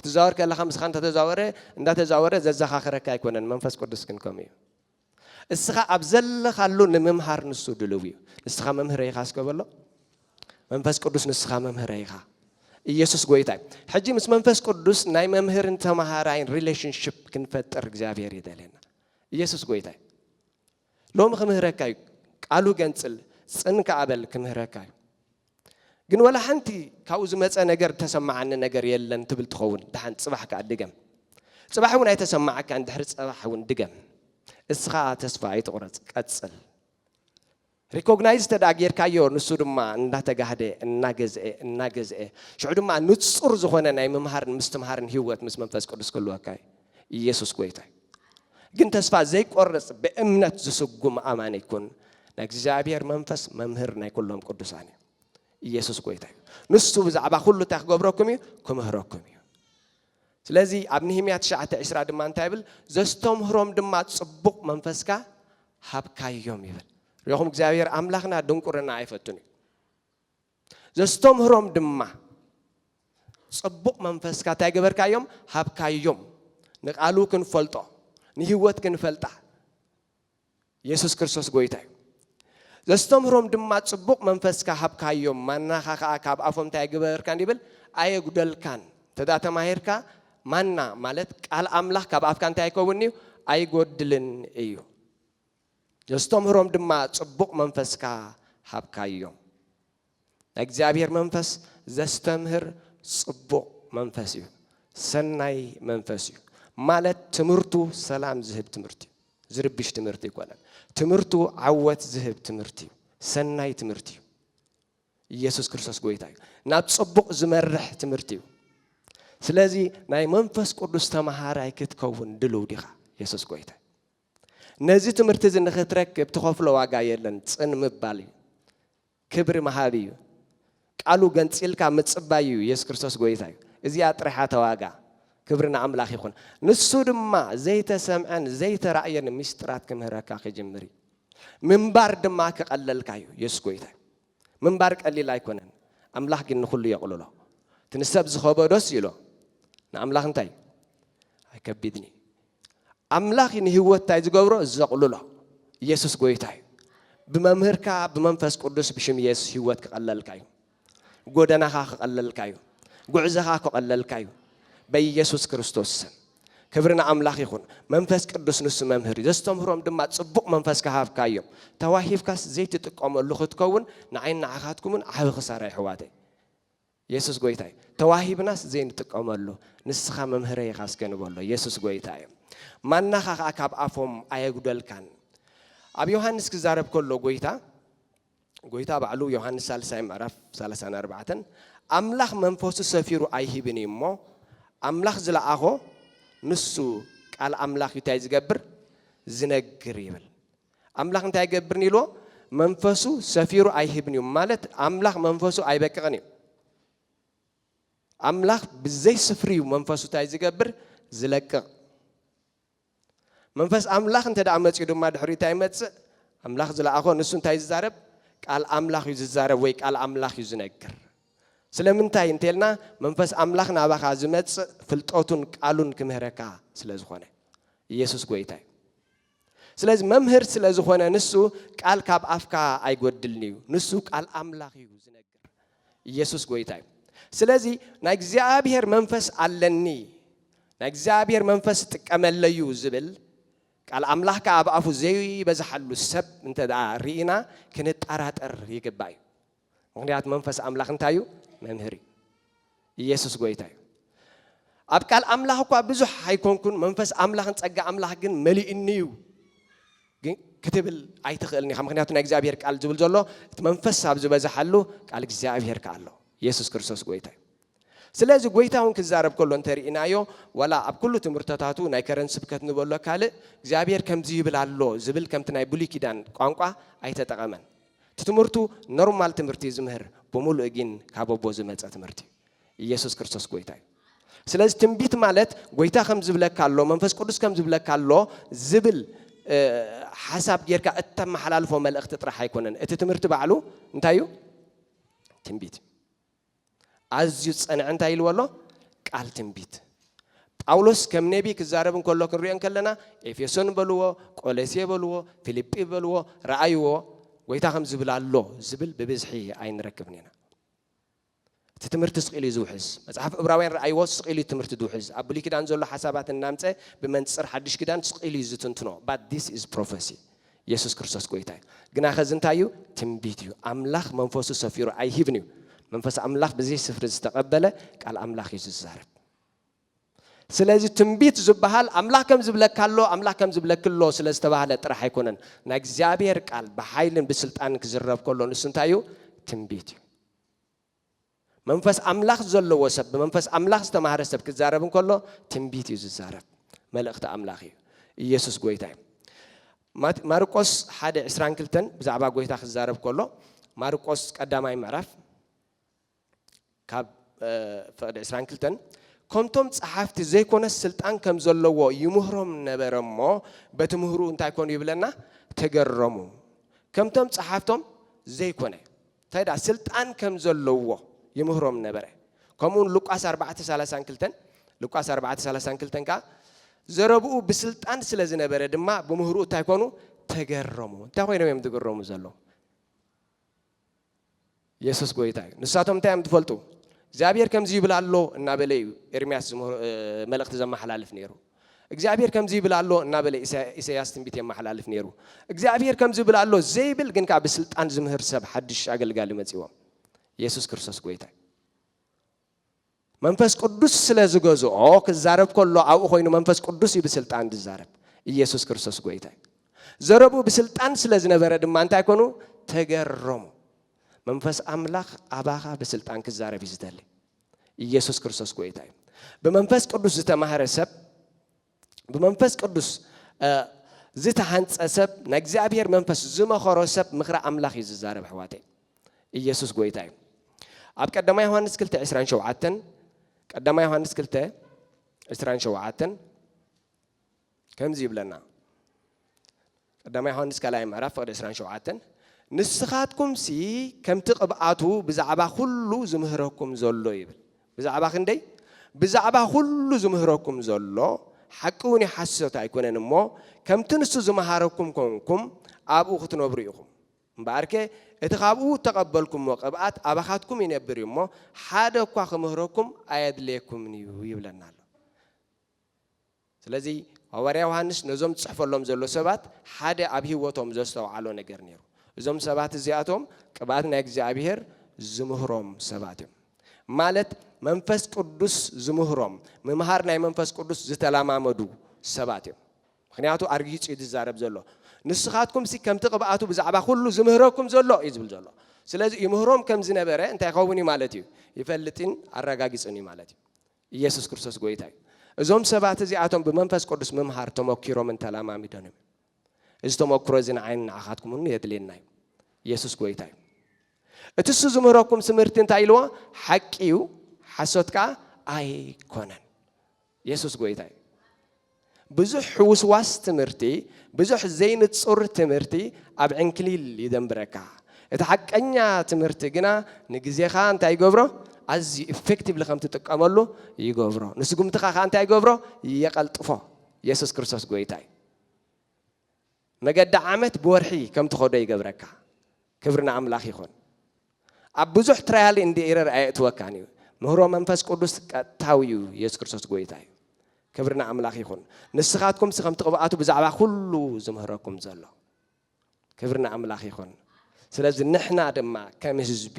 ትዛወር ከለኻ ምስኻ እንተተዛወረ እንዳተዛወረ ዘዘኻኽረካ ኣይኮነን መንፈስ ቅዱስ ግን ከምኡ እዩ እስኻ ኣብ ዘለኻሉ ንምምሃር ንሱ ድልው እዩ። ንስኻ መምህረይ ኢኻ እስከ በሎ። መንፈስ ቅዱስ ንስኻ መምህረይ ኢኻ። ኢየሱስ ጎይታ እዩ። ሕጂ ምስ መንፈስ ቅዱስ ናይ መምህርን ተማሃራይን ሪሌሽንሽፕ ክንፈጥር እግዚኣብሔር ይደልየና። ኢየሱስ ጎይታ እዩ። ሎሚ ክምህረካ እዩ። ቃሉ ገንጽል ጽን ከኣ በል ክምህረካ እዩ። ግን ዋላ ሓንቲ ካብኡ ዝመጸ ነገር እተሰማዓኒ ነገር የለን ትብል ትኸውን። ደሓን ጽባሕ ከኣ ድገም። ጽባሕ እውን ኣይተሰማዓካን፣ ድሕሪ ጽባሕ እውን ድገም። እስኻ ተስፋ ኣይትቑረጽ፣ ቀጽል። ሪኮግናይዝ እንተ ደኣ ጌርካዮ፣ ንሱ ድማ እንዳተጋህደ፣ እናገዝኤ፣ እናገዝኤ፣ ሽዑ ድማ ንጹር ዝኾነ ናይ ምምሃርን ምስትምሃርን ህይወት ምስ መንፈስ ቅዱስ ክህልወካ እዩ። ኢየሱስ ጎይታ እዩ ግን ተስፋ ዘይቆርጽ ብእምነት ዝስጉም ኣማኒ ይኩን ናይ እግዚኣብሔር መንፈስ መምህር ናይ ኩሎም ቅዱሳን እዩ ኢየሱስ ጎይታ እዩ ንሱ ብዛዕባ ኩሉ እንታይ ክገብረኩም እዩ ክምህረኩም እዩ ስለዚ ኣብ ንህምያ ትሽዓተ ዕስራ ድማ እንታይ ይብል ዘስተምህሮም ድማ ጽቡቕ መንፈስካ ሃብካዮም ይብል ሪኹም እግዚኣብሔር ኣምላኽና ድንቁርና ኣይፈቱን እዩ ዘስተምህሮም ድማ ጽቡቕ መንፈስካ እንታይ ገበርካዮም ሃብካዮም ንቃሉ ክንፈልጦ ንህይወት ክንፈልጣ የሱስ ክርስቶስ ጎይታ እዩ ዘስተምህሮም ድማ ጽቡቕ መንፈስካ ሃብካዮም ማናኻ ከዓ ካብ ኣፎም እንታይ ገበርካ እንዲብል ኣየጉደልካን እንተዳ ተማሂርካ ማና ማለት ቃል ኣምላኽ ካብ ኣፍካ እንታይ ኣይከውን እዩ ኣይጎድልን እዩ ነስተምህሮም ድማ ጽቡቕ መንፈስካ ሃብካዮም። ናይ እግዚኣብሔር መንፈስ ዘስተምህር ጽቡቕ መንፈስ እዩ፣ ሰናይ መንፈስ እዩ። ማለት ትምህርቱ ሰላም ዝህብ ትምህርቲ እዩ፣ ዝርብሽ ትምህርቲ ኣይኮነን። ትምህርቱ ዓወት ዝህብ ትምህርቲ እዩ፣ ሰናይ ትምህርቲ እዩ። ኢየሱስ ክርስቶስ ጎይታ እዩ። ናብ ጽቡቕ ዝመርሕ ትምህርቲ እዩ። ስለዚ ናይ መንፈስ ቅዱስ ተማሃራይ ክትከውን ድልው ዲኻ? ኢየሱስ ጎይታ ነዚ ትምህርቲ እዚ ንኽትረክብ ትኸፍሎ ዋጋ የለን፣ ጽን ምባል እዩ። ክብሪ ምሃብ እዩ። ቃሉ ገንጺልካ ምጽባይ እዩ፣ የሱስ ክርስቶስ ጎይታ እዩ። እዚኣ ጥራሕ እያ እታ ዋጋ። ክብሪ ንኣምላኽ ይኹን። ንሱ ድማ ዘይተሰምዐን ዘይተራእየን ምስጢራት ክምህረካ ክጅምር እዩ። ምንባር ድማ ክቐለልካ እዩ፣ የሱስ ጎይታ እዩ። ምንባር ቀሊል ኣይኮነን፣ ኣምላኽ ግን ንኹሉ የቕልሎ። እቲ ንሰብ ዝኸበዶስ ይሎ ንኣምላኽ እንታይ እዩ? ኣይከቢድን እዩ። ኣምላኽ ንህይወት ታይ ዝገብሮ ዘቕልሎ ኢየሱስ ጎይታ እዩ ብመምህርካ ብመንፈስ ቅዱስ ብሽም ኢየሱስ ህይወት ክቐለልካ እዩ ጎደናኻ ክቐለልካ እዩ ጉዕዘኻ ክቐለልካ እዩ በኢየሱስ ክርስቶስ ስም ክብሪ ንኣምላኽ ይኹን መንፈስ ቅዱስ ንሱ መምህር እዩ ዘስተምህሮም ድማ ጽቡቕ መንፈስ ክሃብካ እዮም ተዋሂብካስ ዘይትጥቀመሉ ክትከውን ንዓይን ንዓኻትኩምን ዓቢ ክሳራ ይሕዋተይ የሱስ ጎይታ እዩ ተዋሂብናስ ዘይንጥቀመሉ ንስኻ መምህረይ ኢኻ እስከ ንበሎ የሱስ ጎይታ እዩ ማናኻ ከኣ ካብ ኣፎም ኣየጉደልካን ኣብ ዮሃንስ ክዛረብ ከሎ ጎይታ ጎይታ ባዕሉ ዮሃንስ ሳልሳይ ምዕራፍ ሰላሳን ኣርባዕተን ኣምላኽ መንፈሱ ሰፊሩ ኣይሂብን እዩ እሞ ኣምላኽ ዝለኣኾ ንሱ ቃል ኣምላኽ እዩ እንታይ ዝገብር ዝነግር ይብል ኣምላኽ እንታይ ኣይገብርን ኢልዎ? መንፈሱ ሰፊሩ ኣይህብን እዩ፣ ማለት ኣምላኽ መንፈሱ ኣይበቅቕን እዩ። ኣምላኽ ብዘይ ስፍሪ እዩ መንፈሱ እንታይ ዝገብር? ዝለቅቕ። መንፈስ ኣምላኽ እንተ ደኣ መጺኡ ድማ ድሕሪኡ እንታይ ይመጽእ? ኣምላኽ ዝለኣኾ ንሱ እንታይ እዩ ዝዛረብ? ቃል ኣምላኽ እዩ ዝዛረብ ወይ ቃል ኣምላኽ እዩ ዝነግር። ስለምንታይ እንተልና መንፈስ ኣምላኽ ናባኻ ዝመጽእ ፍልጠቱን ቃሉን ክምህረካ ስለ ዝኾነ። ኢየሱስ ጐይታ እዩ። ስለዚ መምህር ስለ ዝኾነ ንሱ ቃል ካብ ኣፍካ ኣይጎድልን እዩ ንሱ ቃል ኣምላኽ እዩ ዝነግር ኢየሱስ ጎይታ እዩ ስለዚ ናይ እግዚኣብሔር መንፈስ ኣለኒ ናይ እግዚኣብሔር መንፈስ ጥቀመለዩ ዝብል ቃል ኣምላኽ ከዓ ኣብ ኣፉ ዘይበዝሓሉ ሰብ እንተ ርኢና ክንጠራጠር ይግባእ እዩ ምክንያት መንፈስ ኣምላኽ እንታይ እዩ መምህር እዩ ኢየሱስ ጎይታ እዩ ኣብ ቃል ኣምላኽ እኳ ብዙሕ ኣይኮንኩን መንፈስ ኣምላኽን ጸጋ ኣምላኽ ግን መሊኡኒ እዩ ክትብል ኣይትኽእልን ኢኻ ምክንያቱ ናይ እግዚኣብሄር ቃል ዝብል ዘሎ እቲ መንፈስ ኣብ ዝበዝሓሉ ቃል እግዚኣብሄር ከዓ ኣሎ የሱስ ክርስቶስ ጎይታ እዩ ስለዚ ጎይታ እውን ክዛረብ ከሎ እንተርኢናዮ ዋላ ኣብ ኩሉ ትምህርተታቱ ናይ ከረን ስብከት ንበሎ ካልእ እግዚኣብሄር ከምዚ ይብል ኣሎ ዝብል ከምቲ ናይ ብሉይ ኪዳን ቋንቋ ኣይተጠቐመን እቲ ትምህርቱ ኖርማል ትምህርቲ እዩ ዝምህር ብሙሉእ ጊን ካብ ኣቦ ዝመጸ ትምህርቲ እዩ ኢየሱስ ክርስቶስ ጎይታ እዩ ስለዚ ትንቢት ማለት ጎይታ ከም ዝብለካ ኣሎ መንፈስ ቅዱስ ከም ዝብለካ ኣሎ ዝብል ሓሳብ ጌርካ እተመሓላልፎ መልእኽቲ ጥራሕ ኣይኮነን እቲ ትምህርቲ ባዕሉ እንታይ እዩ ትንቢት እዩ ኣዝዩ ዝጸንዐ እንታይ ኢልዎ ኣሎ? ቃል ትንቢት። ጳውሎስ ከም ነብዪ ክዛረብ እንከሎ ክንሪኦ እንከለና ኤፌሶን በልዎ፣ ቆለሴ በልዎ፣ ፊልጲ በልዎ ረኣይዎ ጐይታ ከምዚ ይብል ኣሎ ዝብል ብብዝሒ ኣይንረክብን ኢና። እቲ ትምህርቲ ስቕ ኢሉ እዩ ዝውሕዝ። መጽሓፍ እብራውያን ረኣይዎ ስቕ ኢሉ እዩ ትምህርቲ ዝውሕዝ። ኣብ ብሉይ ኪዳን ዘሎ ሓሳባት እናምጸ ብመንጽር ሓድሽ ኪዳን ስቕ ኢሉ እዩ ዝትንትኖ። But this is prophecy። የሱስ ክርስቶስ ጎይታ እዩ። ግናኸ እዚ እንታይ እዩ? ትንቢት እዩ። ኣምላኽ መንፈሱ ሰፊሩ ኣይህብን እዩ። መንፈስ ኣምላኽ ብዘይ ስፍሪ ዝተቐበለ ቃል ኣምላኽ እዩ ዝዛረብ። ስለዚ ትንቢት ዝበሃል ኣምላኽ ከም ዝብለካ ኣሎ ኣምላኽ ከም ዝብለኪ ኣሎ ስለ ዝተባህለ ጥራሕ ኣይኮነን ናይ እግዚኣብሔር ቃል ብሓይልን ብስልጣንን ክዝረብ ከሎ ንሱ እንታይ እዩ ትንቢት እዩ መንፈስ ኣምላኽ ዘለዎ ሰብ፣ ብመንፈስ ኣምላኽ ዝተማህረ ሰብ ክዛረብ እንከሎ ትንቢት እዩ ዝዛረብ። መልእኽቲ ኣምላኽ እዩ። ኢየሱስ ጎይታ እዩ። ማርቆስ ሓደ ዕስራን ክልተን ብዛዕባ ጎይታ ክዛረብ ከሎ ማርቆስ ቀዳማይ ምዕራፍ ካብ ፍቕዲ ዕስራን ክልተን ከምቶም ጸሓፍቲ ዘይኮነስ ስልጣን ከም ዘለዎ ይምህሮም ነበረ እሞ በቲ ምህሩ እንታይ ኮኑ ይብለና ተገረሙ ከምቶም ጸሓፍቶም ዘይኮነ እንታይ ደኣ ስልጣን ከም ዘለዎ ይምህሮም ነበረ። ከምኡውን ሉቃስ ኣርባዕተ ሳላሳን ክልተን ሉቃስ ኣርባዕተ ሳላሳን ክልተን ከኣ ዘረብኡ ብስልጣን ስለ ዝነበረ ድማ ብምህርኡ እንታይ ኮኑ ተገረሙ። እንታይ ኮይኖም እዮም ዝግረሙ ዘለዉ? የሱስ ጎይታ እዩ። ንሳቶም እንታይ እዮም ትፈልጡ? እግዚኣብሔር ከምዚ ይብል ኣሎ እናበለ እዩ ኤርምያስ መልእኽቲ ዘመሓላልፍ ነይሩ። እግዚኣብሄር ከምዚ ይብል ኣሎ እናበለ ኢሰያስ ትንቢት የማሓላልፍ ኔሩ እግዚኣብሄር ከምዚ ይብል ኣሎ ዘይብል ግን ከኣ ብስልጣን ዝምህር ሰብ ሓድሽ ኣገልጋሊ መጺዎም የሱስ ክርስቶስ ጎይታ እዩ መንፈስ ቅዱስ ስለ ዝገዝኦ ክዛረብ ከሎ ኣብኡ ኮይኑ መንፈስ ቅዱስ እዩ ብስልጣን ዝዛረብ ኢየሱስ ክርስቶስ ጎይታ እዩ ዘረብኡ ብስልጣን ስለ ዝነበረ ድማ እንታይ ኮኑ ተገረሙ መንፈስ ኣምላኽ ኣባኻ ብስልጣን ክዛረብ እዩ ዝደሊ ኢየሱስ ክርስቶስ ጎይታ እዩ። ብመንፈስ ቅዱስ ዝተማህረ ሰብ ብመንፈስ ቅዱስ ዝተሃንፀ ሰብ ናይ እግዚኣብሔር መንፈስ ዝመኸሮ ሰብ ምኽሪ ኣምላኽ እዩ ዝዛረብ ኣሕዋተይ ኢየሱስ ጎይታ እዩ ኣብ ቀዳማ ዮሃንስ 2 27 ቀዳማ ዮሃንስ 2 27 ከምዚ ይብለና ቀዳማይ ዮሃንስ ካልኣይ ምዕራፍ ፍቕዲ ዕስራን ሸውዓተን ንስኻትኩምሲ ከምቲ ቅብኣቱ ብዛዕባ ኩሉ ዝምህረኩም ዘሎ ይብል ብዛዕባ ክንደይ ብዛዕባ ኩሉ ዝምህረኩም ዘሎ ሓቂ እውን ይሓስሶት ኣይኮነን እሞ ከምቲ ንሱ ዝመሃረኩም ኮንኩም ኣብኡ ክትነብሩ ኢኹም እምበኣርከ እቲ ካብኡ እተቐበልኩምዎ ቅብኣት ኣባኻትኩም ይነብር እዩ እሞ ሓደ እኳ ክምህረኩም ኣየድልየኩምን እዩ ይብለና ኣሎ ስለዚ ሃዋርያ ዮሃንስ ነዞም ዝጽሕፈሎም ዘሎ ሰባት ሓደ ኣብ ህይወቶም ዘስተውዓሎ ነገር ነይሩ። እዞም ሰባት እዚኣቶም ቅብኣት ናይ እግዚኣብሄር ዝምህሮም ሰባት እዮም። ማለት መንፈስ ቅዱስ ዝምህሮም፣ ምምሃር ናይ መንፈስ ቅዱስ ዝተለማመዱ ሰባት እዮም። ምክንያቱ ኣርጊጹ እዩ ዝዛረብ ዘሎ። ንስኻትኩምሲ ከምቲ ቅብኣቱ ብዛዕባ ኩሉ ዝምህረኩም ዘሎ እዩ ዝብል ዘሎ። ስለዚ ይምህሮም ከም ዝነበረ እንታይ ይኸውን እዩ ማለት እዩ? ይፈልጥን ኣረጋጊጹን እዩ ማለት እዩ። ኢየሱስ ክርስቶስ ጐይታ እዩ። እዞም ሰባት እዚኣቶም ብመንፈስ ቅዱስ ምምሃር ተመኪሮምን ተለማሚዶምን እዮም። እዚ ተመክሮ እዚ ንዓይን ንዓኻትኩም እውን የድልየና እዩ። ኢየሱስ ጐይታ እዩ። እቲ እሱ ዝምህረኩም ትምህርቲ እንታይ ኢልዎ? ሓቂ እዩ፣ ሓሶት ከኣ ኣይኮነን። ኢየሱስ ጐይታ እዩ። ብዙሕ ሕውስዋስ ትምህርቲ፣ ብዙሕ ዘይንጹር ትምህርቲ ኣብ ዕንክሊል ይደንብረካ። እቲ ሓቀኛ ትምህርቲ ግና ንግዜኻ እንታይ ይገብሮ? ኣዝዩ ኢፈክቲቭሊ ከም ትጥቀመሉ ይገብሮ። ንስጉምትኻ ከኣ እንታይ ይገብሮ? የቐልጥፎ። የሱስ ክርስቶስ ጎይታ እዩ። መገዲ ዓመት ብወርሒ ከም ትኸዶ ይገብረካ። ክብሪ ንኣምላኽ ይኹን። ኣብ ብዙሕ ትራያል እንድ ኤረር ኣየእትወካን እዩ። ምህሮ መንፈስ ቅዱስ ቀጥታዊ እዩ የሱስ ክርስቶስ ጎይታ እዩ። ክብሪ ንኣምላኽ ይኹን። ንስኻትኩም ሲ ከምቲ ቅብኣቱ ብዛዕባ ኩሉ ዝምህረኩም ዘሎ። ክብሪ ንኣምላኽ ይኹን። ስለዚ ንሕና ድማ ከም ህዝቢ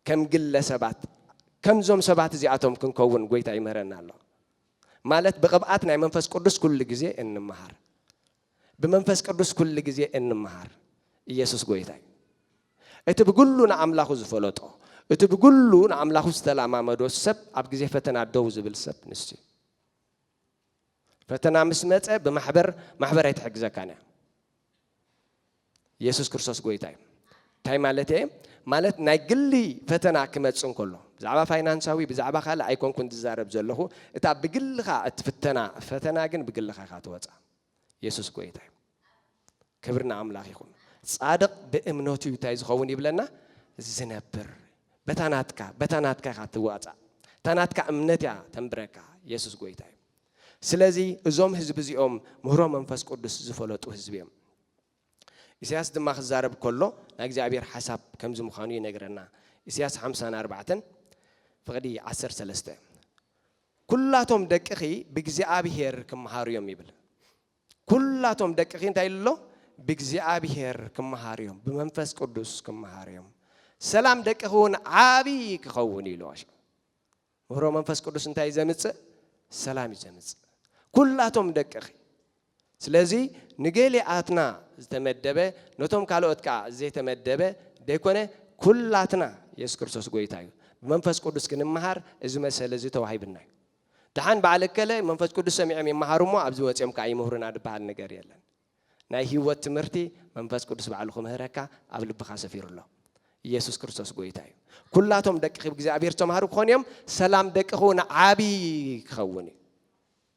ከም ግለ ሰባት ከምዞም ሰባት እዚኣቶም ክንከውን ጎይታ ይምህረና ኣሎ። ማለት ብቕብኣት ናይ መንፈስ ቅዱስ ኩሉ ግዜ እንመሃር ብመንፈስ ቅዱስ ኩሉ ግዜ እንመሃር ኢየሱስ ጎይታ እዩ እቲ ብግሉ ንኣምላኹ ዝፈለጦ እቲ ብግሉ ንኣምላኹ ዝተላማመዶ ሰብ ኣብ ግዜ ፈተና ደው ዝብል ሰብ ንሱ እዩ ፈተና ምስ መፀ ብማሕበር ማሕበር ኣይትሕግዘካን እያ የሱስ ክርስቶስ ጎይታ እዩ። እንታይ ማለት እየ? ማለት ናይ ግሊ ፈተና ክመጽ እንከሎ ብዛዕባ ፋይናንሳዊ ብዛዕባ ካልእ ኣይኮንኩን ዝዛረብ ዘለኹ እታ ብግልኻ እትፍተና ፈተና ግን ብግልኻ ኢኻ ትወፃ የሱስ ጎይታ እዩ ክብሪ ንኣምላኽ ይኹን ጻድቕ ብእምነቱ እዩ እንታይ ዝኸውን ይብለና ዝነብር በታ ናትካ በታ ናትካ ኢኻ ትዋፃእ እታ ናትካ እምነት እያ ተንብረካ የሱስ ጎይታ እዩ ስለዚ እዞም ህዝቢ እዚኦም ምህሮ መንፈስ ቅዱስ ዝፈለጡ ህዝቢ እዮም። ኢሳያስ ድማ ክዛረብ ከሎ ናይ እግዚኣብሔር ሓሳብ ከምዚ ምዃኑ ይነግረና። ኢሳያስ ሓምሳን ኣርባዕተን ፍቕዲ ዓሰርተ ሰለስተ ኩላቶም ደቅኺ ብእግዚኣብሔር ክመሃሩ እዮም ይብል። ኩላቶም ደቅኺ እንታይ ኢሉ ኣሎ? ብእግዚኣብሔር ክመሃሩ እዮም፣ ብመንፈስ ቅዱስ ክመሃሩ እዮም። ሰላም ደቅኺ እውን ዓብዪ ክኸውን ኢሉ። ምህሮ መንፈስ ቅዱስ እንታይ እዩ ዘምጽእ? ሰላም እዩ ዘምጽእ። ኩላቶም ደቅኺ ስለዚ ንገሊኣትና ዝተመደበ ነቶም ካልኦት ከዓ ዘይተመደበ ዘይኮነ ኩላትና የሱስ ክርስቶስ ጎይታ እዩ ብመንፈስ ቅዱስ ክንመሃር እዚ መሰለ እዚ ተዋሂብና እዩ ድሓን በዓል እከለ መንፈስ ቅዱስ ሰሚዖም ይመሃሩ እሞ ኣብዚ ወፂኦም ከዓ ይምህሩና ዝበሃል ነገር የለን ናይ ህይወት ትምህርቲ መንፈስ ቅዱስ ባዕሉ ክምህረካ ኣብ ልብኻ ሰፊሩ ኣሎ። ኢየሱስ ክርስቶስ ጎይታ እዩ። ኩላቶም ደቅኺ ብእግዚኣብሔር ዝተማህሩ ክኾኑ እዮም፣ ሰላም ደቅኺ እውን ዓቢ ክኸውን እዩ።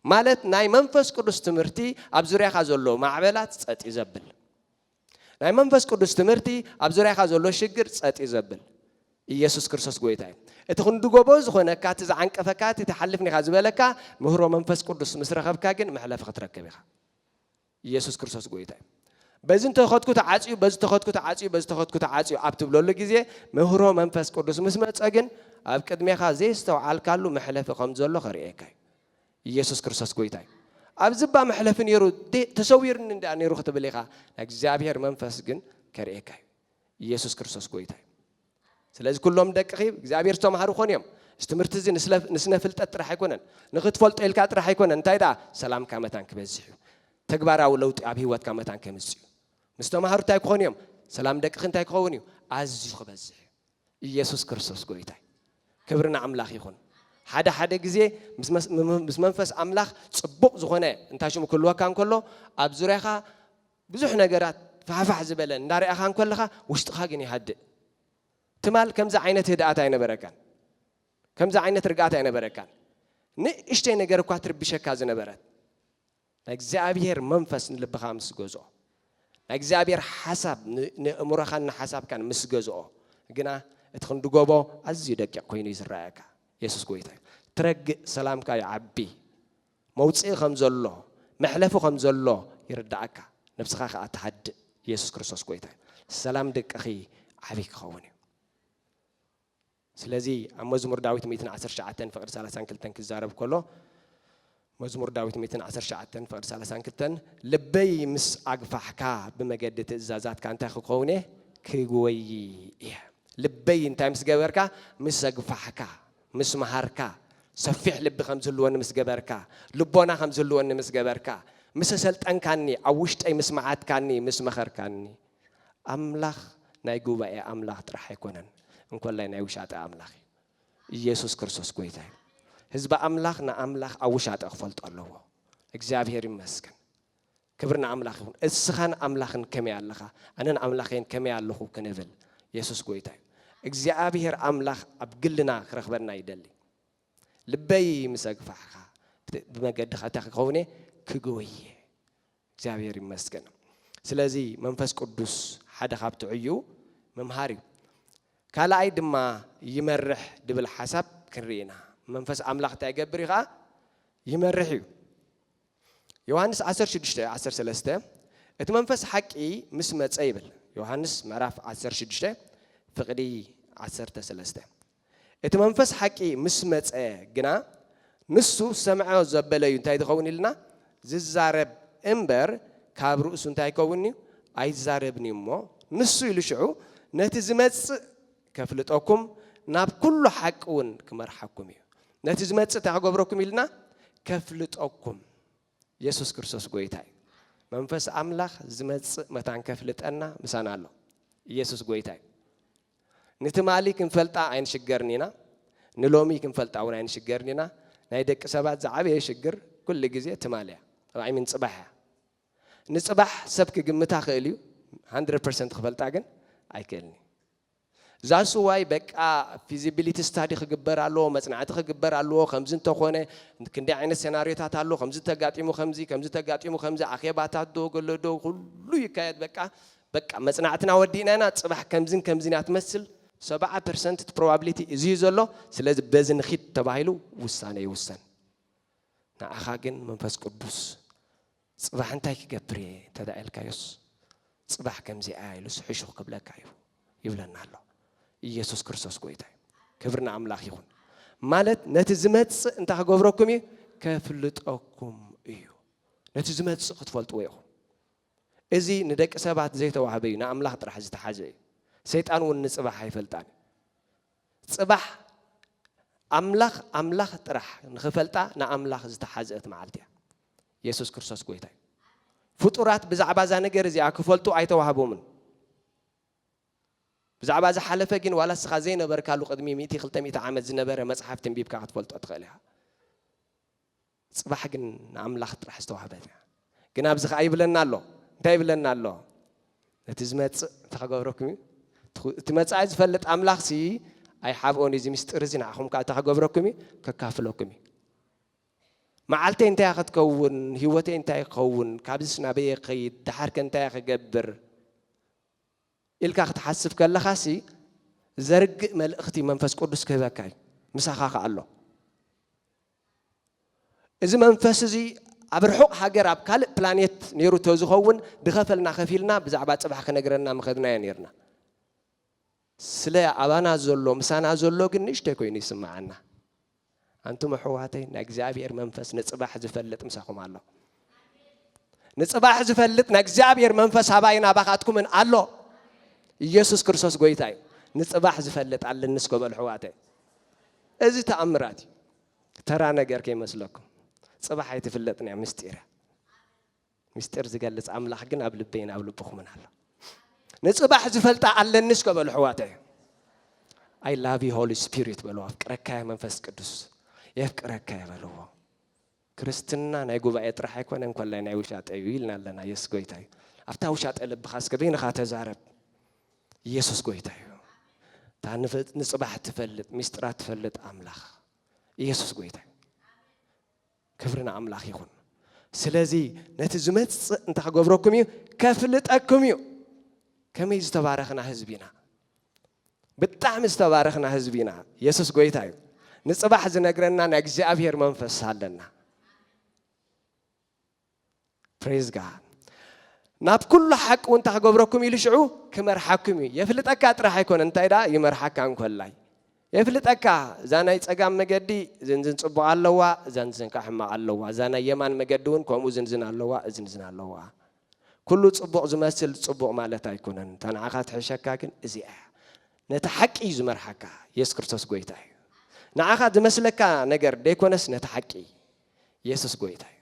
ማለት ናይ መንፈስ ቅዱስ ትምህርቲ ኣብ ዙርያኻ ዘሎ ማዕበላት ጸጥ እዩ ዘብል። ናይ መንፈስ ቅዱስ ትምህርቲ ኣብ ዙርያኻ ዘሎ ሽግር ጸጥ እዩ ዘብል። ኢየሱስ ክርስቶስ ጎይታ እዩ። እቲ ክንድጎቦ ዝኾነካ እቲ ዝዓንቀፈካ እቲ ተሓልፍኒ ኢኻ ዝበለካ ምህሮ መንፈስ ቅዱስ ምስ ረኸብካ ግን መሕለፊ ክትረክብ ኢኻ። ኢየሱስ ክርስቶስ ጎይታ እዩ። በዚ እንተኸድኩ ተዓጽዩ፣ በዚ ተኸድኩ ተዓጽዩ፣ በዚ ተኸድኩ ተዓጽዩ ኣብ ትብለሉ ግዜ ምህሮ መንፈስ ቅዱስ ምስ መጸ ግን ኣብ ቅድሜኻ ዘየስተውዓልካሉ መሕለፊ ከም ዘሎ ከርእየካ እዩ። ኢየሱስ ክርስቶስ ጎይታ እዩ። ኣብዚ እባ መሕለፊ ነይሩ ተሰዊርኒ እንድኣ ነይሩ ክትብል ኢኻ፣ ናይ እግዚኣብሔር መንፈስ ግን ከርእየካ እዩ። ኢየሱስ ክርስቶስ ጎይታ እዩ። ስለዚ ኩሎም ደቅኺ እግዚኣብሔር ዝተማህሩ ክኾኑ እዮም። እዚ ትምህርቲ እዚ ንስነ ፍልጠት ጥራሕ ኣይኮነን፣ ንኽትፈልጦ ኢልካ ጥራሕ ኣይኮነን፣ እንታይ ደኣ ሰላምካ መታን ክበዝሕ እዩ። ተግባራዊ ለውጢ ኣብ ህይወትካ መታን ከምጽእ እዩ። ምስ ተማሃሩ እንታይ ክኾኑ እዮም? ሰላም ደቅኺ እንታይ ክኸውን እዩ? ኣዝዩ ክበዝሕ እዩ። ኢየሱስ ክርስቶስ ጎይታ እዩ። ክብሪ ንኣምላኽ ይኹን። ሓደ ሓደ ግዜ ምስ መንፈስ ኣምላኽ ጽቡቕ ዝኾነ እንታይ ሽሙ ክህልወካ እንከሎ ኣብ ዙርያኻ ብዙሕ ነገራት ፋሕፋሕ ዝበለን እንዳርኣኻ እንከለኻ ውሽጥኻ ግን ይሃድእ። ትማል ከምዚ ዓይነት ህድኣት ኣይነበረካን። ከምዚ ዓይነት ርግኣት ኣይነበረካን። ንእሽተይ ነገር እኳ ትርብሸካ ዝነበረት ናይ እግዚኣብሄር መንፈስ ንልብኻ ምስ ገዝኦ ናይ እግዚኣብሄር ሓሳብ ንእእምሮኻን ንሓሳብካን ምስ ገዝኦ ግና እቲ ክንድጎቦ ኣዝዩ ደቂቕ ኮይኑ እዩ ዝረኣየካ። የሱስ ጎይታ እዩ። ትረግእ ሰላምካ ይዓቢ። መውጽኢ ከም ዘሎ መሕለፊ ከም ዘሎ ይርድኣካ ነብስኻ ከኣ ትሃድእ የሱስ ክርስቶስ ጎይታ እዩ ሰላም ደቅኺ ዓቢ ክኸውን እዩ ስለዚ ኣብ መዝሙር ዳዊት 119 ፍቅዲ 32 ክዛረብ ከሎ መዝሙር ዳዊት 119 ፍቅዲ 32 ልበይ ምስ ኣግፋሕካ ብመገዲ ትእዛዛትካ እንታይ ክኸውን እየ ክጎይ እየ ልበይ እንታይ ምስ ገበርካ ምስ ኣግፋሕካ ምስ መሃርካ፣ ሰፊሕ ልቢ ከም ዝህልወኒ ምስ ገበርካ፣ ልቦና ከም ዝህልወኒ ምስ ገበርካ፣ ምስ ኣሰልጠንካኒ፣ ኣብ ውሽጠይ ምስ መዓትካኒ፣ ምስ መኸርካኒ። ኣምላኽ ናይ ጉባኤ ኣምላኽ ጥራሕ ኣይኮነን፣ እንኮላይ ናይ ውሻጠ ኣምላኽ እዩ። ኢየሱስ ክርስቶስ ጎይታ እዩ። ህዝቢ ኣምላኽ ንኣምላኽ ኣብ ውሻጠ ክፈልጦ ኣለዎ። እግዚኣብሔር ይመስገን። ክብሪ ንኣምላኽ ይኹን። እስኻን ኣምላኽን ከመይ ኣለኻ? ኣነን ኣምላኸይን ከመይ ኣለኹ? ክንብል። የሱስ ጎይታ እዩ። እግዚኣብሄር ኣምላኽ ኣብ ግልና ክረኽበና ይደሊ። ልበይ ምስ ኣግፋሕካ ብመገድኻ እንታይ ክኸውን እየ? ክጎይ እየ። እግዚኣብሄር ይመስገን። ስለዚ መንፈስ ቅዱስ ሓደ ካብቲ ዕዩ ምምሃር እዩ። ካልኣይ ድማ ይመርሕ ድብል ሓሳብ ክንርኢ ኢና። መንፈስ ኣምላኽ እንታይ ይገብር እዩ ኸኣ? ይመርሕ እዩ። ዮሃንስ ዓሰርተ ሽዱሽተ ዓሰርተ ሰለስተ እቲ መንፈስ ሓቂ ምስ መጸ ይብል ዮሃንስ ምዕራፍ ዓሰርተ ሽዱሽተ ፍቕዲ ዓሰርተ ሰለስተ እቲ መንፈስ ሓቂ ምስ መጸ ግና ንሱ ሰምዐ ዘበለ እዩ እንታይ ዝኸውን ኢልና ዝዛረብ እምበር ካብ ርእሱ እንታይ ይከውን እዩ ኣይዛረብን እዩ እሞ ንሱ ኢሉ ሽዑ ነቲ ዝመጽእ ከፍልጠኩም ናብ ኩሉ ሓቂ እውን ክመርሓኩም እዩ። ነቲ ዝመጽእ እንታይ ክገብረኩም ኢልና ከፍልጠኩም የሱስ ክርስቶስ ጎይታ እዩ። መንፈስ ኣምላኽ ዝመጽእ መታን ከፍልጠና ምሳና ኣሎ። ኢየሱስ ጎይታ እዩ። ንትማሊ ክንፈልጣ ኣይንሽገርን ኢና፣ ንሎሚ ክንፈልጣ እውን ኣይንሽገርን ኢና። ናይ ደቂ ሰባት ዝዓበየ ሽግር ኩሉ ግዜ ትማሊ እያ፣ ራዕሚን ጽባሕ እያ። ንጽባሕ ሰብ ክግምታ ክእል እዩ ሃንድረድ ፐርሰንት ክፈልጣ ግን ኣይክእልን እዩ ዛስ ዋይ በቃ ፊዚቢሊቲ ስታዲ ክግበር ኣለዎ መጽናዕቲ ክግበር ኣለዎ ከምዚ እንተኾነ ክንደይ ዓይነት ሴናርዮታት ኣሎ ከምዚ ተጋጢሙ ከምዚ ከምዚ ተጋጢሙ ከምዚ ኣኼባታት ዶ ገሎ ዶ ኩሉ ይካየድ በቃ በቃ መጽናዕትና ወዲእና ኢና ጽባሕ ከምዝን ከምዝን እያ ትመስል ሰብዓ ፐርሰንት ፕሮባቢሊቲ እዚ እዩ ዘሎ ስለዚ በዚ ንኺድ ተባሂሉ ውሳነ ይውሰን ንዓኻ ግን መንፈስ ቅዱስ ጽባሕ እንታይ ክገብር እየ እንተ ኢልካዮስ ጽባሕ ከምዚኣ ኢሉ ስሕሹኽ ክብለካ እዩ ይብለና ኣሎ ኢየሱስ ክርስቶስ ጎይታ እዩ ክብሪ ንኣምላኽ ይኹን ማለት ነቲ ዝመጽእ እንታይ ክገብረኩም እዩ ከፍልጠኩም እዩ ነቲ ዝመጽእ ክትፈልጥዎ ኢኹም እዚ ንደቂ ሰባት ዘይተዋህበ እዩ ንኣምላኽ ጥራሕ ዝተሓዘ እዩ ሰይጣን እውን ንፅባሕ ኣይፈልጣን ጽባሕ ኣምላኽ ኣምላኽ ጥራሕ ንኽፈልጣ ንኣምላኽ ዝተሓዝእት መዓልቲ እያ። የሱስ ክርስቶስ ጎይታ እዩ። ፍጡራት ብዛዕባ እዛ ነገር እዚኣ ክፈልጡ ኣይተዋህቦምን። ብዛዕባ ዝሓለፈ ግን ዋላ እስኻ ዘይነበርካሉ ቅድሚ ሚእቲ ክልተ ሚእቲ ዓመት ዝነበረ መጽሓፍ ትንቢብካ ክትፈልጦ ትኽእል ኢኻ። ጽባሕ ግን ንኣምላኽ ጥራሕ ዝተዋህበት እያ። ግን ኣብዚ ከኣ ይብለና ኣሎ። እንታይ ይብለና ኣሎ? ነቲ ዝመጽእ እንታይ ክገብረኩም እዩ? እቲ መጻኢ ዝፈልጥ ኣምላኽሲ ኣይሓብኦን እዩ። እዚ ምስጢር እዚ ንዓኹም ከኣ እንታይ ክገብረኩም እዩ? ከካፍለኩም እዩ። መዓልተይ እንታይ እያ ክትከውን? ህይወተይ እንታይ ክኸውን? ካብዚስ ናበየ ክኸይድ? ደሓርከ እንታይ እየ ክገብር? ኢልካ ክትሓስብ ከለኻሲ ዘርግእ መልእኽቲ መንፈስ ቅዱስ ክህበካ እዩ። ምሳኻ ከኣ ኣሎ። እዚ መንፈስ እዚ ኣብ ርሑቕ ሃገር ኣብ ካልእ ፕላኔት ኔሩ ተዝኸውን ድኸፈልና ከፊልና ብዛዕባ ጽባሕ ክነግረና ምኸድናዮ ኔርና። ስለ ኣባና ዘሎ ምሳና ዘሎ ግን ንእሽተይ ኮይኑ ይስምዓና። ኣንቱም ኣሕዋተይ ናይ እግዚኣብሄር መንፈስ ንጽባሕ ዝፈልጥ ምሳኹም ኣሎ። ንጽባሕ ዝፈልጥ ናይ እግዚኣብሔር መንፈስ ኣባይን ኣባኻትኩምን ኣሎ ኢየሱስ ክርስቶስ ጎይታ እዩ ንጽባሕ ዝፈልጥ ኣለኒ እስከ በሉ ሕዋተ እዚ ተኣምራት እዩ ተራ ነገር ከይመስለኩም ጽባሕ ኣይትፍለጥን እያ ምስጢር ምስጢር ዝገልጽ ኣምላኽ ግን ኣብ ልበይን ኣብ ልብኹምን ኣሎ ንጽባሕ ዝፈልጣ ኣለኒ እስከ በሉ ሕዋተ ኣይ ላቭ ዩ ሆሊ ስፒሪት በልዎ ኣፍቅረካ መንፈስ ቅዱስ የፍቅረካ የበልዎ ክርስትና ናይ ጉባኤ ጥራሕ ኣይኮነን ኮላይ ናይ ውሻጠ እዩ ኢልና ኣለና የሱስ ጎይታ እዩ ኣብታ ውሻጠ ልብኻ እስከ በይንኻ ተዛረብ ኢየሱስ ጎይታ እዩ እታ ንጽባሕ ትፈልጥ ሚስጥራት ትፈልጥ ኣምላኽ ኢየሱስ ጎይታ እዩ ክብሪ ንኣምላኽ ይኹን ስለዚ ነቲ ዝመፅእ እንታይ ክገብረኩም እዩ ከፍልጠኩም እዩ ከመይ ዝተባረኽና ህዝቢ ኢና ብጣዕሚ ዝተባረኽና ህዝቢ ኢና የሱስ ጎይታ እዩ ንጽባሕ ዝነግረና ናይ እግዚኣብሔር መንፈስ ኣለና ፕሬዝ ጋ ናብ ኩሉ ሓቂ እውን እንታይ ክገብረኩም ኢሉ ሽዑ ክመርሓኩም እዩ የፍልጠካ ጥራሕ ኣይኮነ እንታይ ደኣ ይመርሓካ እንኮላይ የፍልጠካ እዛ ናይ ፀጋም መገዲ ዝንዝን ፅቡቕ ኣለዋ እዛ ንዝንካ ሕማቕ ኣለዋ እዛ ናይ የማን መገዲ እውን ከምኡ ዝንዝን ኣለዋ እዝንዝን ኣለዋ ኩሉ ጽቡቕ ዝመስል ጽቡቕ ማለት ኣይኮነን እታ ንዓኻ ትሕሸካ ግን እዚኣ እያ ነቲ ሓቂ እዩ ዝመርሓካ የሱስ ክርስቶስ ጎይታ እዩ ንዓኻ ዝመስለካ ነገር ደይኮነስ ነቲ ሓቂ የሱስ ጎይታ እዩ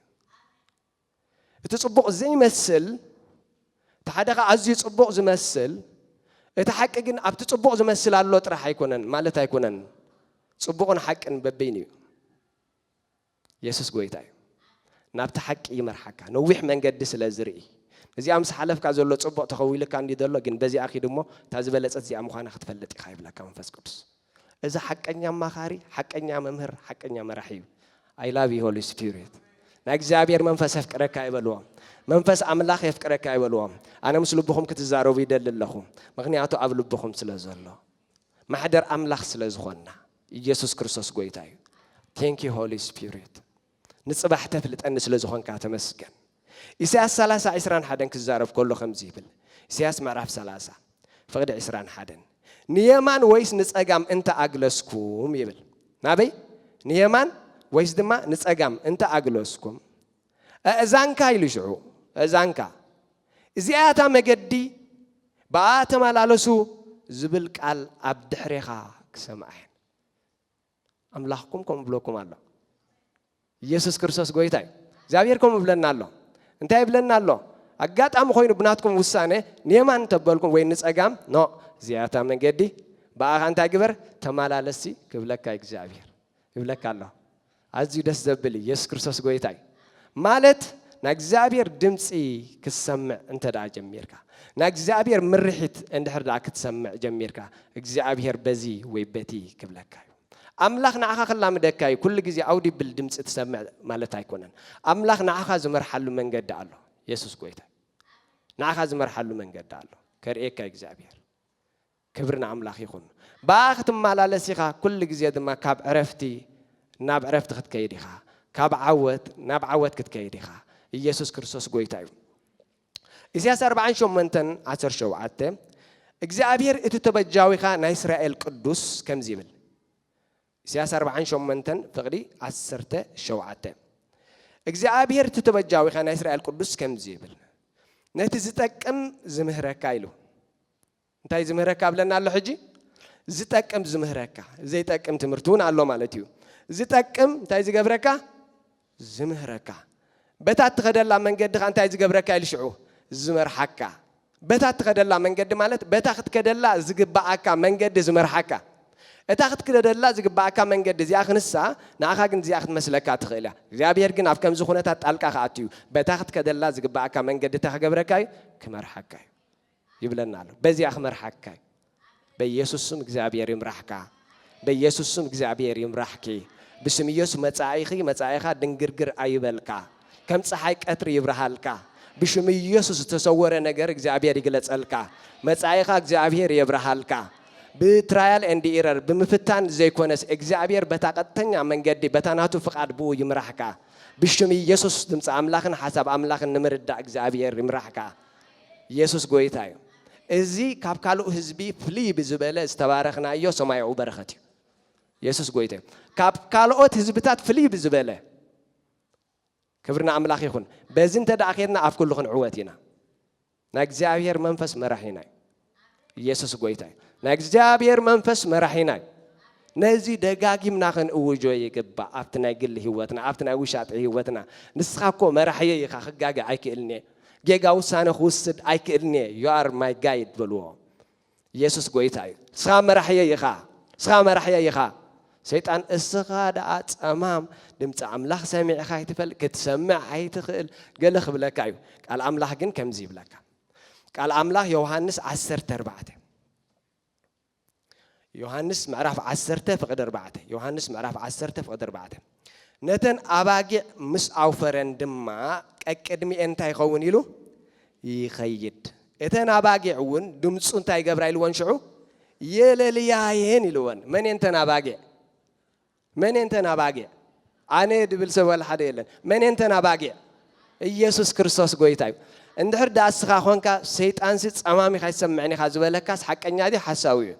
እቲ ጽቡቕ ዘይመስል እቲ ሓደ ኸዓ ኣዝዩ ጽቡቕ ዝመስል እቲ ሓቂ ግን ኣብቲ ጽቡቕ ዝመስል ኣሎ ጥራሕ ኣይኮነን ማለት ኣይኮነን ጽቡቕን ሓቅን በበይኑ እዩ የሱስ ጎይታ እዩ ናብቲ ሓቂ ይመርሓካ ነዊሕ መንገዲ ስለ ዝርኢ እዚኣ ምስ ሓለፍካ ዘሎ ጽቡቕ ተኸዊልካ እንዲዩ ዘሎ ግን በዚኣ ኪድ እሞ እታ ዝበለጸት እዚኣ ምዃና ክትፈልጥ ኢኻ ይብለካ መንፈስ ቅዱስ እዚ ሓቀኛ ኣማኻሪ ሓቀኛ መምህር ሓቀኛ መራሒ እዩ ኣይ ላቭ ዩ ሆሊ ስፒሪት ናይ እግዚኣብሔር መንፈስ የፍቅረካ ይበልዎም መንፈስ ኣምላኽ የፍቅረካ ይበልዎም ኣነ ምስ ልብኹም ክትዛረቡ ይደሊ ኣለኹ ምክንያቱ ኣብ ልብኹም ስለ ዘሎ ማሕደር ኣምላኽ ስለ ዝኾንና ኢየሱስ ክርስቶስ ጎይታ እዩ Thank you Holy Spirit ንጽባሕ ተፍልጠኒ ስለ ዝኾንካ ተመስገን ኢሳያስ ሰላሳ ዕስራን ሓደን ክዛረብ ከሎ ከምዚ ይብል ኢሳያስ ምዕራፍ ሰላሳ ፍቕዲ ዕስራን ሓደን ንየማን ወይስ ንጸጋም እንተ ኣግለስኩም ይብል ናበይ ንየማን ወይስ ድማ ንጸጋም እንተ ኣግለስኩም ኣእዛንካ ኢሉ ሽዑ ኣእዛንካ እዚኣያ እታ መገዲ ብኣኣ ተመላለሱ ዝብል ቃል ኣብ ድሕሬኻ ክሰምዓ እየን ኣምላኽኩም ከምኡ ብለኩም ኣሎ ኢየሱስ ክርስቶስ ጎይታ እዩ እግዚኣብሔር ከምኡ ብለና ኣሎ እንታይ ይብለና ኣሎ ኣጋጣሚ ኮይኑ ብናትኩም ውሳነ ንየማን ተበልኩም ወይ ንፀጋም ኖ እዚኣታ መንገዲ ብኣኻ እንታይ ግበር ተመላለሲ ክብለካ እግዚኣብሔር ይብለካ ኣሎ ኣዝዩ ደስ ዘብል እዩ የሱስ ክርስቶስ ጎይታ እዩ ማለት ናይ እግዚኣብሔር ድምፂ ክትሰምዕ እንተ ደኣ ጀሚርካ ናይ እግዚኣብሔር ምርሒት እንድሕር ደኣ ክትሰምዕ ጀሚርካ እግዚኣብሔር በዚ ወይ በቲ ክብለካ እዩ ኣምላኽ ንዓኻ ክላምደካ እዩ ኩሉ ግዜ ኣውዲብል ድምፂ ትሰምዕ ማለት ኣይኮነን ኣምላኽ ንዓኻ ዝመርሓሉ መንገዲ ኣሎ የሱስ ጎይታ ንዓኻ ዝመርሓሉ መንገዲ ኣሎ ከርእየካ እግዚኣብሔር ክብሪ ንኣምላኽ ይኹን። ብኣኣ ክትመላለስ ኢኻ፣ ኩሉ ግዜ ድማ ካብ ዕረፍቲ ናብ ዕረፍቲ ክትከይድ ኢኻ፣ ካብ ዓወት ናብ ዓወት ክትከይድ ኢኻ። ኢየሱስ ክርስቶስ ጎይታ እዩ። ኢሳያስ ኣርብዓን ሸሞንተን ዓሰርተ ሸውዓተ እግዚኣብሔር እቲ ተበጃዊኻ ናይ እስራኤል ቅዱስ ከምዚ ይብል ኢሳያስ ኣርብዓን ሸሞንተን ፍቕዲ ዓሰርተ ሸውዓተ እግዚኣብሔር እቲ ተበጃዊኻ ናይ እስራኤል ቅዱስ ከምዚ ይብል ነቲ ዝጠቅም ዝምህረካ ኢሉ እንታይ ዝምህረካ ኣብለና ኣሎ ሕጂ ዝጠቅም ዝምህረካ ዘይጠቅም ትምህርቲ እውን ኣሎ ማለት እዩ ዝጠቅም እንታይ ዝገብረካ ዝምህረካ በታ እትኸደላ መንገዲ ኸ እንታይ ዝገብረካ ኢሉ ሽዑ ዝመርሓካ በታ እትኸደላ መንገዲ ማለት በታ ክትከደላ ዝግባኣካ መንገዲ ዝመርሓካ እታ ክትክደደላ ዝግባኣካ መንገዲ እዚኣ ክንሳ ንኣኻ ግን እዚኣ ክትመስለካ ትኽእል እያ እግዚኣብሔር ግን ኣብ ከምዚ ኩነታት ጣልቃ ክኣት እዩ በታ ክትከደላ ዝግባኣካ መንገዲ እታ ክገብረካ እዩ ክመርሓካ እዩ ይብለና ኣሎ በዚኣ ክመርሓካ እዩ በኢየሱስ ስም እግዚኣብሔር ይምራሕካ በኢየሱስ ስም እግዚኣብሔር ይምራሕኪ ብስም ኢየሱስ መጻኢኺ መጻኢኻ ድንግርግር ኣይበልካ ከም ፀሓይ ቀትሪ ይብርሃልካ ብሽም ኢየሱስ ዝተሰወረ ነገር እግዚኣብሔር ይግለጸልካ መጻኢኻ እግዚኣብሔር የብርሃልካ ብትራያል ኤንድ ኢረር ብምፍታን ዘይኮነስ እግዚኣብሔር በታ ቀጥተኛ መንገዲ በታ ናቱ ፍቃድ ብኡ ይምራሕካ ብሽም ኢየሱስ ድምፂ ኣምላኽን ሓሳብ ኣምላኽን ንምርዳእ እግዚኣብሔር ይምራሕካ ኢየሱስ ጎይታ እዩ። እዚ ካብ ካልኡ ህዝቢ ፍልይ ብዝበለ ዝተባረኽናዮ ሰማያዊ በረኸት እዩ። ኢየሱስ ጎይታ እዩ። ካብ ካልኦት ህዝብታት ፍልይ ብዝበለ ክብሪ ንኣምላኽ ይኹን። በዚ እንተ ደኣ ኬድና ኣብ ኩሉ ክንዕወት ኢና። ናይ እግዚኣብሔር መንፈስ መራሒና እዩ። ኢየሱስ ጎይታ እዩ። ናይ እግዚኣብሔር መንፈስ መራሒና እዩ። ነዚ ደጋጊምና ክንእውጆ ይግባእ ኣብቲ ናይ ግሊ ህይወትና ኣብቲ ናይ ውሻጠ ህይወትና ንስኻ እኮ መራሕየይ ኢኻ ክጋገ ኣይክእልን እየ ጌጋ ውሳነ ክውስድ ኣይክእልን እየ you are my guide በልዎ ኢየሱስ ጎይታ እዩ ንስኻ መራሕየይ ኢኻ ንስኻ መራሕየይ ኢኻ ሰይጣን እስኻ ደኣ ጸማም ድምፂ ኣምላኽ ሰሚዕኻ ኣይትፈል ክትሰምዕ ኣይትኽእል ገለ ክብለካ እዩ ቃል ኣምላኽ ግን ከምዚ ይብለካ ቃል ኣምላኽ ዮውሃንስ ዓሰርተ ኣርባዕተ ዮሃንስ ምዕራፍ ዓሰርተ ፍቕዲ ኣርባዕተ ዮሃንስ ምዕራፍ ዓሰርተ ፍቕዲ ኣርባዕተ ነተን ኣባጊዕ ምስ ኣውፈረን ድማ ቀቅድሚኤን እንታይ ይኸውን ኢሉ ይኸይድ እተን ኣባጊዕ እውን ድምፁ እንታይ ይገብራ ኢልወን ሽዑ የለልያየን ኢልወን መን እየን ተን ኣባጊዕ መን'የንተን ኣባጊዕ? ኣነ'የ ድብል ሰብ ዋላ ሓደ የለን። መን'የንተን ኣባጊዕ? ኢየሱስ ክርስቶስ ጎይታ'ዩ። እንድሕር ድኣ እስኻ ኮንካ ሰይጣንሲ ጸማሚኽ ኣይትሰምዕን ኢኻ ዝበለካስ ሓቀኛ ድዩ ሓሳዊ'ዩ?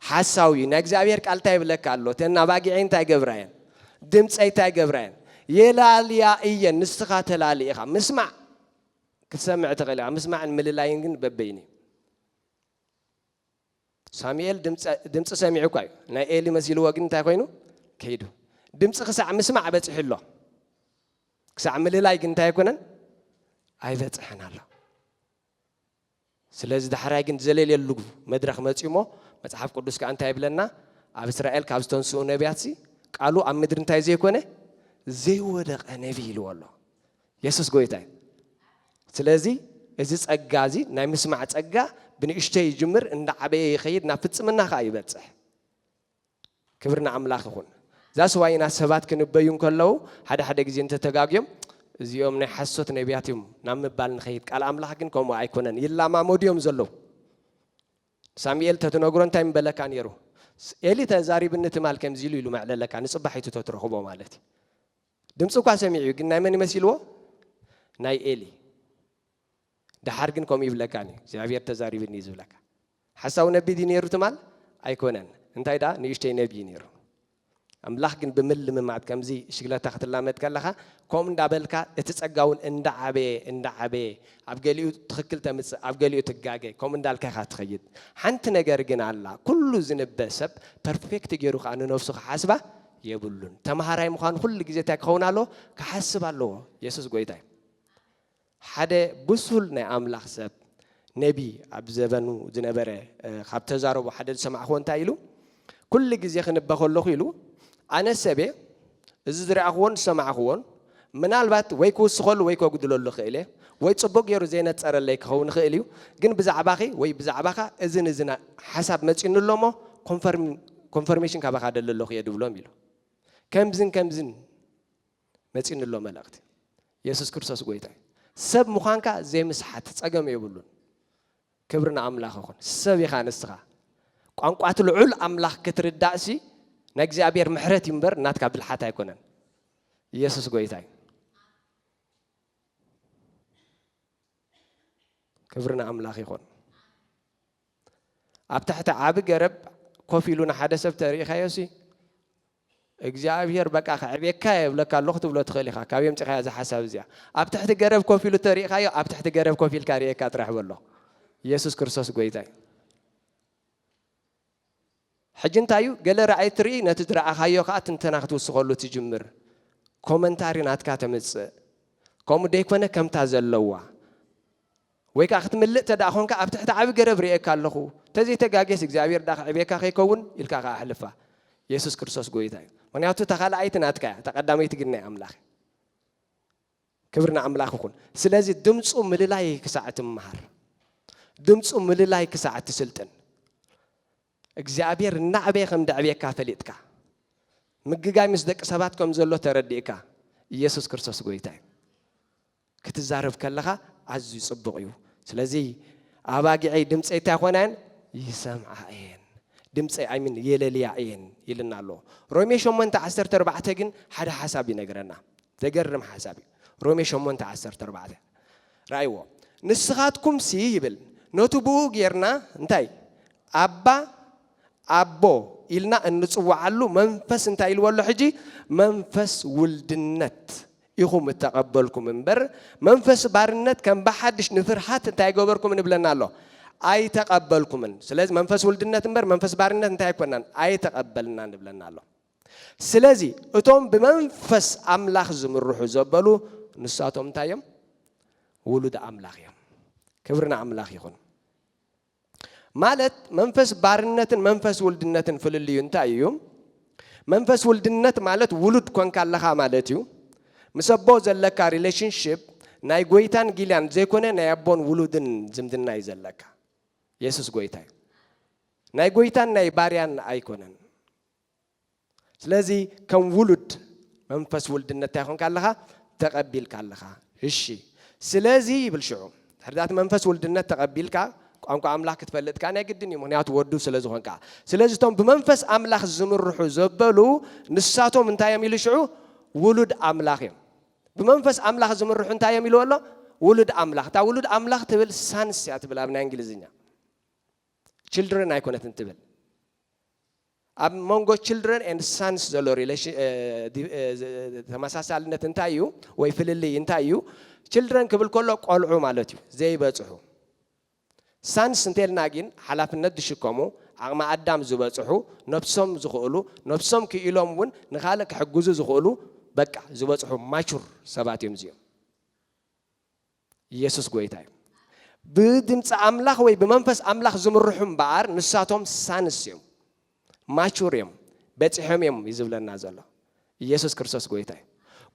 ሓሳዊ'ዩ። ናይ እግዚኣብሔር ቃል እንታይ ይብለካ ኣሎ? እተን ኣባጊዐይ እንታይ ይገብራ'የን? ድምጸይ እንታይ ይገብራ'የን? የላልያ እየን። ንስኻ ተላሊ ኢኻ። ምስማዕ ክትሰምዕ ትኽእል ኢኻ። ምስማዕን ምልላይን ግን በበይኑ'ዩ። ሳሙኤል ድምጺ ሰሚዑ እኳ እዩ ናይ ኤሊ መሲልዎ ግን እንታይ ኮይኑ ከይዱ ድምጺ ክሳዕ ምስማዕ በጺሑ ኣሎ ክሳዕ ምልላይ ግን እንታይ ኣይኮነን ኣይበጽሐን ኣሎ ስለዚ ዳሕራይ ግን ዘለልየሉ መድረኽ መፅዩ እሞ መፅሓፍ ቅዱስ ከዓ እንታይ ይብለና ኣብ እስራኤል ካብ ዝተንስኡ ነቢያትሲ ቃሉ ኣብ ምድሪ እንታይ ዘይኮነ ዘይወደቐ ነቢይ ኢልዎ ኣሎ የሱስ ጎይታ እዩ ስለዚ እዚ ጸጋ እዚ ናይ ምስማዕ ጸጋ ብንእሽተይ ይጅምር እንዳዓበየ ይኸይድ ናብ ፍጽምና ከኣ ይበጽሕ ክብሪ ንኣምላኽ ይኹን ዛስ ዋይ ኢና ሰባት ክንበዩ እንከለዉ ሓደ ሓደ ግዜ እንተተጋግዮም እዚኦም ናይ ሓሶት ነቢያት እዮም ናብ ምባል ንኸይድ ቃል ኣምላኽ ግን ከምኡ ኣይኮነን ይላማመዱ እዮም ዘለዉ ሳሙኤል ተትነግሮ እንታይ ምበለካ ነይሩ ኤሊ ተዛሪብኒ ትማል ከምዚ ኢሉ ኢሉ መዕለለካ ንፅባሒቱ ተትረኽቦ ማለት እዩ ድምፂ እኳ ሰሚዑ እዩ ግን ናይ መን እዩ መሲልዎ ናይ ኤሊ ደሓር ግን ከምኡ ይብለካን እዩ እግዚኣብሔር ተዛሪብኒ እዩ ዝብለካ ሓሳዊ ነቢ ድዩ ነይሩ ትማል ኣይኮነን እንታይ ደኣ ንእሽተይ ነቢ እዩ ነይሩ ኣምላኽ ግን ብምልምማድ ከምዚ ሽግለታ ክትላመድ ከለኻ ከምኡ እንዳበልካ እቲ ጸጋ እውን እንዳዓበየ እንዳዓበየ ኣብ ገሊኡ ትኽክል ተምጽእ ኣብ ገሊኡ ትጋገ ከምኡ እንዳልካ ኢኻ ትኸይድ ሓንቲ ነገር ግን ኣላ ኩሉ ዝንበ ሰብ ፐርፌክት ገይሩ ከዓ ንነፍሱ ክሓስባ የብሉን ተማሃራይ ምዃን ኹሉ ግዜ እንታይ ክኸውን ኣለዎ ክሓስብ ኣለዎ የሱስ ጎይታ እዩ ሓደ ብሱል ናይ ኣምላኽ ሰብ ነቢ ኣብ ዘበኑ ዝነበረ ካብ ተዛረቡ ሓደ ዝሰማዕኹዎ እንታይ ኢሉ ኩሉ ግዜ ክንበ ከለኹ ኢሉ ኣነ ሰቤ እዚ ዝረኣኹዎን ዝሰማዕኹዎን ምናልባት ወይ ክውስኸሉ ወይ ከጉድለሉ እኽእል እየ፣ ወይ ጽቡቕ ገይሩ ዘይነጸረለይ ክኸውን ይኽእል እዩ፣ ግን ብዛዕባኺ ወይ ብዛዕባኻ እዝን እዝን ሓሳብ መጺኡኒ ኣሎ እሞ ኮንፈርም ኮንፈርሜሽን ካባኻ እደሊ ኣለኹ እየ ድብሎም ኢሉ። ከምዝን ከምዝን መጺኡኒ ኣሎ መልእኽቲ። የሱስ ክርስቶስ ጎይታ እዩ። ሰብ ምዃንካ ዘይምስሓት ጸገም የብሉን። ክብሪ ንኣምላኽ ይኹን ሰብ ኢኻ ንስኻ ቋንቋ እቲ ልዑል ኣምላኽ ክትርዳእሲ ናይ እግዚኣብሔር ምሕረት እዩ እምበር ናትካ ብልሓት ኣይኮነን ኢየሱስ ጎይታ እዩ ክብሪ ንኣምላኽ ይኹን ኣብ ትሕቲ ዓቢ ገረብ ኮፍ ኢሉ ንሓደ ሰብ ተሪኢኻዮሲ እግዚኣብሄር በቃ ከዕብየካ እየ እብለካ ኣለኹ ክትብሎ ትኽእል ኢኻ። ካበይ ኣምጺእኻያ እዛ ሓሳብ እዚኣ? ኣብ ትሕቲ ገረብ ኮፍ ኢሉ እንተሪእኻዮ ኣብ ትሕቲ ገረብ ኮፍ ኢልካ ርእየካ ጥራሕ በሎ። ኢየሱስ ክርስቶስ ጎይታ እዩ። ሕጂ እንታይ እዩ ገለ ራእይ ትርኢ ነቲ ዝረኣኻዮ ከዓ ትንተና ክትውስኸሉ ትጅምር ኮመንታሪ ናትካ ተምፅእ ከምኡ ደይኮነ ከምታ ዘለዋ ወይ ከኣ ክትምልእ እንተደኣ ኾንካ ኣብ ትሕቲ ዓቢ ገረብ ርእየካ ኣለኹ፣ እንተዘይ ተጋግየስ እግዚኣብሄር ደኣ ከዕብየካ ከይከውን ኢልካ ከኣ ኣሕልፋ። የሱስ ክርስቶስ ጎይታ እዩ። ምኽንያቱ እታ ካልኣይቲ ናትካ እያ፣ እታ ቀዳመይቲ ግን ናይ ኣምላኽ እያ። ክብሪ ንኣምላኽ ይኹን። ስለዚ ድምጹ ምልላይ ክሳዕ እትመሃር፣ ድምጹ ምልላይ ክሳዕ እትስልጥን፣ እግዚኣብሄር እናዕበየ ከም ደዕብየካ ፈሊጥካ፣ ምግጋይ ምስ ደቂ ሰባት ከም ዘሎ ተረዲእካ፣ ኢየሱስ ክርስቶስ ጎይታ እዩ። ክትዛረብ ከለኻ ኣዝዩ ጽቡቕ እዩ። ስለዚ ኣባጊዐይ ድምጸይ እንታይ ክኾና እየን? ይሰምዓ እየን። ድምጸይ ኣይ ሚን የለልያ እየን ኢሉና ኣሎ። ሮሜ ሸሞንተ ዓሰርተ ኣርባዕተ ግን ሓደ ሓሳብ ይነግረና። ዘገርም ሓሳብ እዩ። ሮሜ ሸሞንተ ዓሰርተ ኣርባዕተ ረኣይዎ። ንስኻትኩምሲ ይብል ነቱ ብኡ ጌርና እንታይ ኣባ ኣቦ ኢልና እንጽውዓሉ መንፈስ እንታይ ኢልዎ ኣሎ ሕጂ? መንፈስ ውልድነት ኢኹም እተቐበልኩም እምበር፣ መንፈስ ባርነት ከም ብሓድሽ ንፍርሃት እንታይ ኣይገበርኩምን ይብለና ኣሎ፣ ኣይተቐበልኩምን። ስለዚ መንፈስ ውልድነት እምበር መንፈስ ባርነት እንታይ ኣይኮናን፣ ኣይተቐበልናን ይብለና ኣሎ። ስለዚ እቶም ብመንፈስ ኣምላኽ ዝምርሑ ዘበሉ ንሳቶም እንታይ እዮም? ውሉድ ኣምላኽ እዮም። ክብሪ ንኣምላኽ ይኹን። ማለት መንፈስ ባርነትን መንፈስ ውልድነትን ፍልልዩ እንታይ እዩ? መንፈስ ውልድነት ማለት ውሉድ ኮንካ ኣለኻ ማለት እዩ። ምስ ኣቦ ዘለካ ሪለሽንሺፕ ናይ ጎይታን ጊልያን ዘይኮነ ናይ ኣቦን ውሉድን ዝምድና እዩ ዘለካ። የሱስ ጎይታ እዩ። ናይ ጎይታን ናይ ባርያን ኣይኮነን። ስለዚ ከም ውሉድ መንፈስ ውልድነት እንታይ ኮንካ ኣለኻ? ተቐቢልካ ኣለኻ። እሺ ስለዚ ይብል ሽዑ ድሕሪ ዛቲ መንፈስ ውልድነት ተቐቢልካ ቋንቋ ኣምላኽ ክትፈልጥ ከዓ ናይ ግድን እዩ ምክንያቱ ወዱ ስለ ዝኾንካ ስለዚ እቶም ብመንፈስ ኣምላኽ ዝምርሑ ዘበሉ ንሳቶም እንታይ እዮም ኢሉ ሽዑ ውሉድ ኣምላኽ እዮም ብመንፈስ ኣምላኽ ዝምርሑ እንታይ እዮም ኢልዎ ኣሎ ውሉድ ኣምላኽ እታ ውሉድ ኣምላኽ ትብል ሳንስ እያ ትብል ኣብ ናይ እንግሊዝኛ ችልድረን ኣይኮነትን ትብል ኣብ መንጎ ችልድረን ኤንድ ሳንስ ዘሎ ተመሳሳልነት እንታይ እዩ ወይ ፍልልይ እንታይ እዩ? ችልድረን ክብል ከሎ ቆልዑ ማለት እዩ፣ ዘይበጽሑ። ሳንስ እንተልና ግን ሓላፍነት ዝሽከሙ፣ ዓቕሚ ኣዳም ዝበጽሑ፣ ነብሶም ዝኽእሉ፣ ነብሶም ክኢሎም እውን ንኻልእ ክሕግዙ ዝኽእሉ በቃ ዝበጽሑ ማቹር ሰባት እዮም እዚኦም። ኢየሱስ ጎይታ እዩ። ብድምጺ ኣምላኽ ወይ ብመንፈስ ኣምላኽ ዝምርሑ እምበኣር ንሳቶም ሳንስ እዮም፣ ማቹር እዮም፣ በጺሖም እዮም እዩ ዝብለና ዘሎ። ኢየሱስ ክርስቶስ ጎይታ እዩ።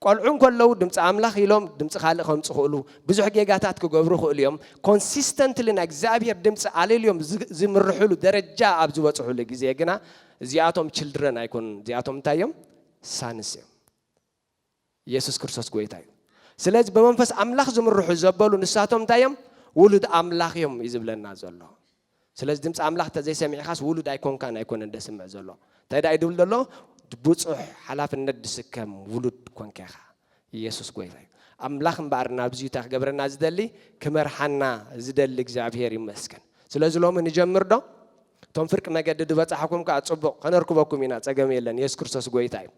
ቆልዑ እንከለዉ ድምጺ ኣምላኽ ኢሎም ድምጺ ካልእ ከምጹ ይኽእሉ፣ ብዙሕ ጌጋታት ክገብሩ ይኽእሉ እዮም። ኮንሲስተንትሊ ናይ እግዚኣብሔር ድምጺ ኣለልዮም ዝምርሕሉ ደረጃ ኣብ ዝበጽሑሉ ግዜ ግና እዚኣቶም ችልድረን ኣይኮኑን፣ እዚኣቶም እንታይ እዮም? ሳንስ እዮም። የሱስ ክርስቶስ ጎይታ እዩ ስለዚ ብመንፈስ ኣምላኽ ዝምርሑ ዘበሉ ንሳቶም እንታይ እዮም ውሉድ ኣምላኽ እዮም እዩ ዝብለና ዘሎ ስለዚ ድምፂ ኣምላኽ ተዘይሰሚዕኻስ ውሉድ ኣይኮንካን ኣይኮነን ደስምዕ ዘሎ እንታይ ዳእዩ ድብል ዘሎ ብፁሕ ሓላፍነት ድስከም ውሉድ ኮንካ ኢኻ የሱስ ጎይታ እዩ ኣምላኽ እምበኣር ናብዚ እታ ክገብረና ዝደሊ ክመርሓና ዝደሊ እግዚኣብሄር ይመስገን ስለዚ ሎሚ ንጀምር ዶ እቶም ፍርቂ መገዲ ድበጻሕኩም ከኣ ጽቡቅ ከነርክበኩም ኢና ጸገም የለን የሱስ ክርስቶስ ጎይታ እዩ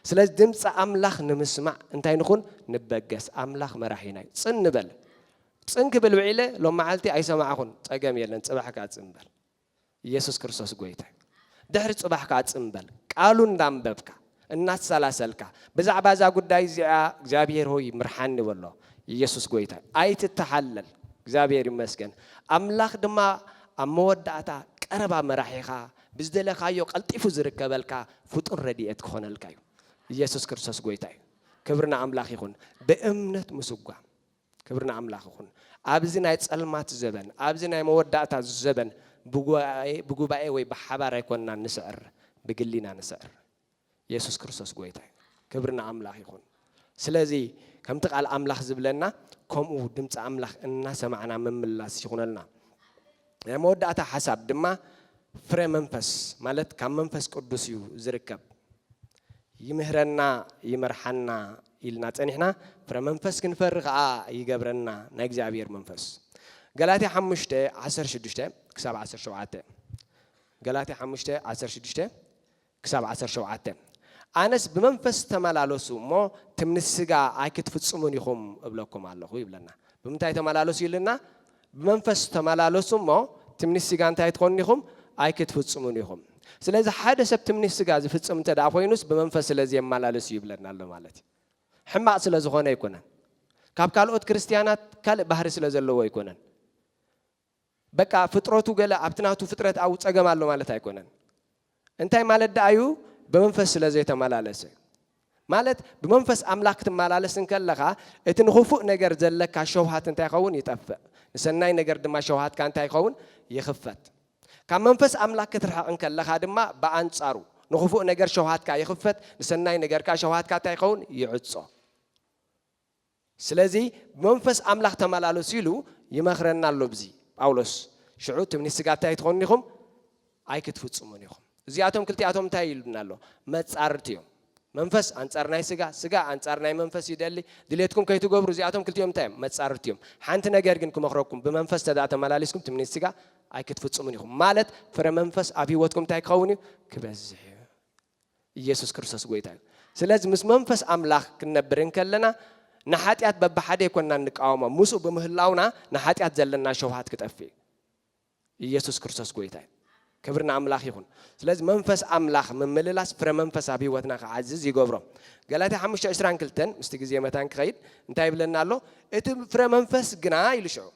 ስለዚ ድምጺ ኣምላኽ ንምስማዕ እንታይ ንኹን ንበገስ ኣምላኽ መራሒና እዩ ጽን ንበል ጽን ክብል ውዒለ ሎም መዓልቲ ኣይሰማዕኹን ጸገም የለን ጽባሕ ከኣ ጽን በል የሱስ ክርስቶስ ጎይታ ድሕሪ ጽባሕ ከኣ ጽን በል ቃሉ እንዳንበብካ እናሰላሰልካ ብዛዕባ እዛ ጉዳይ እዚኣ እግዚኣብሔር ሆይ ምርሓኒ በሎ ኢየሱስ ጎይታ እዩ ኣይትተሓለል እግዚኣብሔር ይመስገን ኣምላኽ ድማ ኣብ መወዳእታ ቀረባ መራሒኻ ብዝደለኻዮ ቀልጢፉ ዝርከበልካ ፍጡር ረድኤት ክኾነልካ እዩ ኢየሱስ ክርስቶስ ጎይታ እዩ ክብሪ ንኣምላኽ ይኹን ብእምነት ምስጓም ክብሪ ንኣምላኽ ይኹን። ኣብዚ ናይ ጸልማት ዘበን፣ ኣብዚ ናይ መወዳእታ ዘበን፣ ብጉባኤ ብጉባኤ ወይ ብሓባር ኣይኮንናን ንስዕር፣ ብግሊ ኢና ንስዕር። የሱስ ክርስቶስ ጎይታ እዩ። ክብሪ ንኣምላኽ ይኹን። ስለዚ ከምቲ ቃል ኣምላኽ ዝብለና ከምኡ ድምጺ ኣምላኽ እናሰማዕና ምምላስ ይኹነልና። ናይ መወዳእታ ሓሳብ ድማ ፍረ መንፈስ ማለት ካብ መንፈስ ቅዱስ እዩ ዝርከብ። ይምህረና ይመርሓና ኢልና ጸኒሕና ፍረ መንፈስ ክንፈሪ ከኣ ይገብረና ናይ እግዚኣብሔር መንፈስ። ገላትያ ሓሙሽተ ዓሰርተ ሽዱሽተ ክሳብ ዓሰርተ ሸውዓተ ገላትያ ሓሙሽተ ዓሰርተ ሽዱሽተ ክሳብ ዓሰርተ ሸውዓተ፣ ኣነስ ብመንፈስ ተመላለሱ እሞ ትምኒት ስጋ ኣይክትፍጽሙን ኢኹም እብለኩም ኣለኹ ይብለና። ብምንታይ ተመላለሱ ኢሉና? ብመንፈስ ተመላለሱ እሞ ትምኒት ስጋ እንታይ ኣይትኾኑን ኢኹም? ኣይክትፍጽሙን ኢኹም። ስለዚ ሓደ ሰብ ትምኒት ስጋ ዝፍጽም እንተ ደኣ ኮይኑስ ብመንፈስ ስለ ዘየመላለስ እዩ ይብለና ኣሎ ማለት እዩ። ሕማቕ ስለ ዝኾነ ኣይኮነን። ካብ ካልኦት ክርስትያናት ካልእ ባህሪ ስለ ዘለዎ ኣይኮነን። በቃ ፍጥረቱ ገለ ኣብቲ ናቱ ፍጥረት ኣብኡ ጸገም ኣሎ ማለት ኣይኮነን። እንታይ ማለት ደኣ እዩ? ብመንፈስ ስለ ዘይተመላለሰ። ማለት ብመንፈስ ኣምላኽ ክትመላለስ እንከለኻ እቲ ንኽፉእ ነገር ዘለካ ሸውሃት እንታይ ይኸውን? ይጠፍእ። ንሰናይ ነገር ድማ ሸውሃትካ እንታይ ይኸውን? ይኽፈት። ካብ መንፈስ ኣምላኽ ክትርሕቕ እንከለኻ ድማ ብኣንጻሩ ንኽፉእ ነገር ሸውሃትካ ይኽፈት፣ ንሰናይ ነገር ከኣ ሸውሃትካ እንታይ ይኸውን? ይዕጾ። ስለዚ ብመንፈስ ኣምላኽ ተመላለሱ ኢሉ ይመኽረና ኣሎ ብዚ ጳውሎስ ሽዑ ትምኒት ስጋ እታይ ኣይትኾኑን ኢኹም ኣይክትፍጽሙን ኢኹም እዚኣቶም ክልቲኣቶም እንታይ ኢሉና ኣሎ መጻርርቲ እዮም መንፈስ ኣንጻር ናይ ስጋ ስጋ ኣንጻር ናይ መንፈስ ይደሊ ድሌትኩም ከይትገብሩ እዚኣቶም ክልቲኦም እንታይ እዮም መጻርርቲ እዮም ሓንቲ ነገር ግን ክመኽረኩም ብመንፈስ ተዳ ተመላሊስኩም ትምኒት ስጋ ኣይክትፍጽሙን ኢኹም ማለት ፍረ መንፈስ ኣብ ህይወትኩም እንታይ ክኸውን እዩ ክበዝሕ እዩ ኢየሱስ ክርስቶስ ጎይታ እዩ። ስለዚ ምስ መንፈስ ኣምላኽ ክንነብር እንከለና ንሓጢኣት በብሓደ ኣይኮንናን እንቃወሞ፣ ምስኡ ብምህላውና ንሓጢኣት ዘለና ሸውሃት ክጠፍእ እዩ። ኢየሱስ ክርስቶስ ጎይታ እዩ። ክብሪ ንኣምላኽ ይኹን። ስለዚ መንፈስ ኣምላኽ ምምልላስ ፍረ መንፈስ ኣብ ህይወትና ክዓዝዝ ይገብሮ። ገላትያ ሓሙሽተ ዕስራን ክልተን ምስቲ ግዜ መታን ክኸይድ እንታይ ይብለና ኣሎ? እቲ ፍረ መንፈስ ግና ኢሉ ሽዑ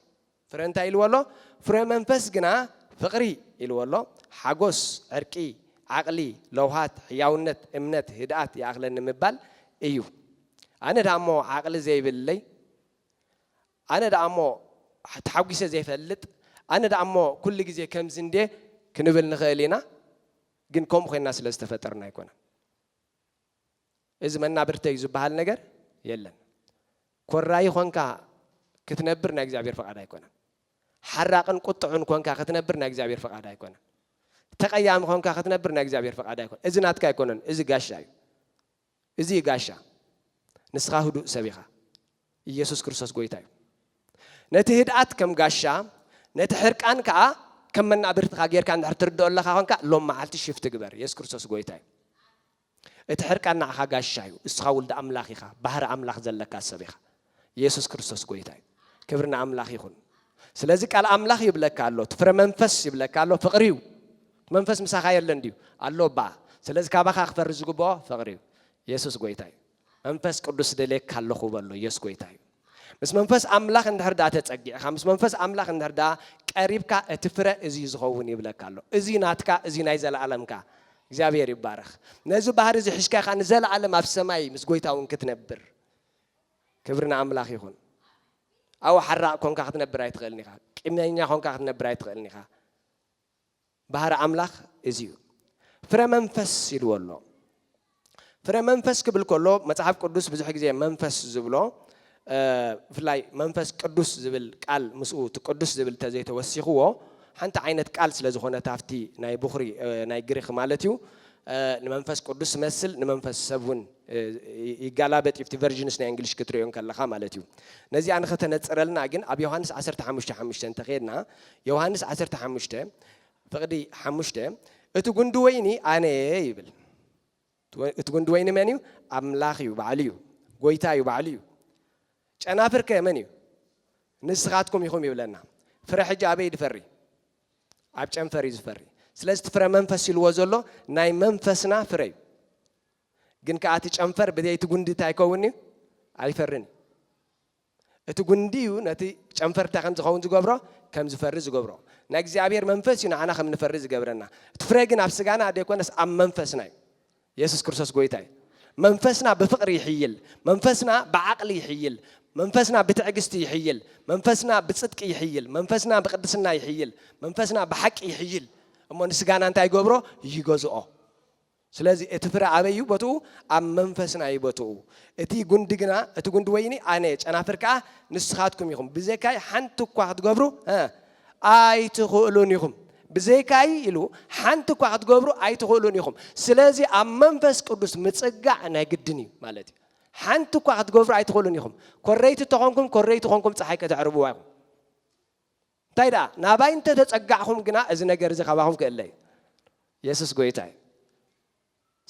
ፍረ እንታይ ኢልዎ ኣሎ? ፍረ መንፈስ ግና ፍቕሪ ኢልዎ ኣሎ፣ ሓጎስ፣ ዕርቂ፣ ዓቕሊ፣ ለውሃት፣ ሕያውነት፣ እምነት፣ ህድኣት ይኣኽለኒ ምባል እዩ። ኣነ ደኣ እሞ ዓቕሊ ዘይብለይ፣ ኣነ ደኣ እሞ ተሓጒሰ ዘይፈልጥ፣ ኣነ ደኣ እሞ ኩሉ ግዜ ከምዚ እንድየ ክንብል ንኽእል ኢና፣ ግን ከምኡ ኮይንና ስለ ዝተፈጠርና ኣይኮነን። እዚ መናብርተይ ዝብሃል ነገር የለን። ኮራዪ ኾንካ ክትነብር ናይ እግዚኣብሔር ፍቓድ ኣይኮነን። ሓራቕን ቁጥዑን ኮንካ ክትነብር ናይ እግዚኣብሔር ፍቓድ ኣይኮነን። ተቐያሚ ኮንካ ክትነብር ናይ እግዚኣብሔር ፍቓድ ኣይኮነን። እዚ ናትካ ኣይኮነን፣ እዚ ጋሻ እዩ። እዚ እዩ ጋሻ። ንስኻ ህዱእ ሰብ ኢኻ። ኢየሱስ ክርስቶስ ጐይታ እዩ። ነቲ ህድኣት ከም ጋሻ፣ ነቲ ሕርቃን ከኣ ከም መናብርትኻ ጌርካ እንድሕር ትርድኦ ኣለኻ ኮንካ፣ ሎም መዓልቲ ሽፍት ግበር። ኢየሱስ ክርስቶስ ጐይታ እዩ። እቲ ሕርቃን ንዓኻ ጋሻ እዩ። እስኻ ውልድ ኣምላኽ ኢኻ። ባህሪ ኣምላኽ ዘለካ ሰብ ኢኻ። ኢየሱስ ክርስቶስ ጐይታ እዩ። ክብሪ ንኣምላኽ ይኹን። ስለዚ ቃል ኣምላኽ ይብለካ ኣሎ፣ እቲ ፍረ መንፈስ ይብለካ ኣሎ፣ ፍቕሪ እዩ። እቲ መንፈስ ምሳኻ የለን ድዩ? ኣሎ እባ። ስለዚ ካባኻ ክፈሪ ዝግብኦ ፍቕሪ እዩ። ኢየሱስ ጐይታ እዩ። መንፈስ ቅዱስ ደልየካ ኣለኹ በሎ የሱስ ጎይታ እዩ። ምስ መንፈስ ኣምላኽ እንድሕር ደኣ ተጸጊዕካ ምስ መንፈስ ኣምላኽ እንድሕር ደኣ ቀሪብካ እቲ ፍረ እዚ እዩ ዝኸውን ይብለካ ኣሎ። እዚ እዩ ናትካ እዚ እዩ ናይ ዘለኣለምካ። እግዚኣብሔር ይባረኽ። ነዚ ባህሪ እዚ ሒዝካ ኢኻ ንዘለኣለም ኣብ ሰማይ ምስ ጎይታ እውን ክትነብር። ክብሪ ንኣምላኽ ይኹን። ኣብኡ ሓራቕ ኮንካ ክትነብር ኣይትኽእልን ኢኻ። ቂመኛ ኮንካ ክትነብር ኣይትኽእልን ኢኻ። ባህሪ ኣምላኽ እዚ እዩ። ፍረ መንፈስ ኢልዎ ኣሎ። ፍረ መንፈስ ክብል ከሎ መጽሓፍ ቅዱስ ብዙሕ ግዜ መንፈስ ዝብሎ ብፍላይ መንፈስ ቅዱስ ዝብል ቃል ምስኡ እቲ ቅዱስ ዝብል ተዘይተወሲኽዎ ሓንቲ ዓይነት ቃል ስለ ዝኾነት ኣብቲ ናይ ብኹሪ ናይ ግሪኽ ማለት እዩ ንመንፈስ ቅዱስ መስል ንመንፈስ ሰብ እውን ይጋላበጥ እዩ እቲ ቨርዥንስ ናይ እንግሊሽ ክትሪኦ ከለኻ ማለት እዩ ነዚኣ ንኸተነፅረልና ግን ኣብ ዮሃንስ 15 ሓሙሽተ እንተኸድና ዮሃንስ ዓሰርተ ሓሙሽተ ፍቕዲ ሓሙሽተ እቲ ጉንዲ ወይኒ ኣነ እየ ይብል። እቲ ጉንዲ ወይኒ መን እዩ? ኣምላኽ እዩ፣ ባዕሉ እዩ፣ ጎይታ እዩ፣ ባዕሉ እዩ። ጨናፍር ከ መን እዩ? ንስኻትኩም ኢኹም ይብለና። ፍረ ሕጂ ኣበይ ዝፈሪ? ኣብ ጨንፈር እዩ ዝፈሪ። ስለዚ እቲ ፍረ መንፈስ ኢልዎ ዘሎ ናይ መንፈስና ፍረ እዩ። ግን ከዓ እቲ ጨንፈር ብዘይቲ ጉንዲ እንታይ ይከውን እዩ? ኣይፈርን እዩ። እቲ ጉንዲ እዩ ነቲ ጨንፈር እንታይ ከም ዝኸውን ዝገብሮ፣ ከም ዝፈሪ ዝገብሮ። ናይ እግዚኣብሄር መንፈስ እዩ ንዓና ከም ንፈሪ ዝገብረና። እቲ ፍረ ግን ኣብ ስጋና ዘይኮነስ ኣብ መንፈስና እዩ። የሱስ ክርስቶስ ጎይታ እዩ። መንፈስና ብፍቕሪ ይሕይል፣ መንፈስና ብዓቕሊ ይሕይል፣ መንፈስና ብትዕግስቲ ይሕይል፣ መንፈስና ብጽድቂ ይሕይል፣ መንፈስና ብቅድስና ይሕይል፣ መንፈስና ብሓቂ ይሕይል እሞ ንስጋና እንታይ ይገብሮ፣ ይገዝኦ። ስለዚ እቲ ፍረ ኣበይ እዩ ቦትኡ? ኣብ መንፈስና እዩ ቦትኡ። እቲ ጉንዲ ግና፣ እቲ ጉንዲ ወይኒ ኣነ፣ ጨናፍር ከኣ ንስኻትኩም ኢኹም፣ ብዘይካይ ሓንቲ እኳ ክትገብሩ ኣይትኽእሉን ኢኹም። ብዘይካይ ኢሉ ሓንቲ እኳ ክትገብሩ ኣይትኽእሉን ኢኹም። ስለዚ ኣብ መንፈስ ቅዱስ ምጽጋዕ ናይ ግድን እዩ ማለት እዩ። ሓንቲ እኳ ክትገብሩ ኣይትኽእሉን ኢኹም። ኮረይቲ እተኾንኩም ኮረይቲ ኮንኩም ጸሓይ ከተዕርብዋ ኢኹም። እንታይ ደኣ ናባይ እንተ ተጸጋዕኩም ግና እዚ ነገር እዚ ካባኹም ክእለ እዩ። የሱስ ጎይታ እዩ።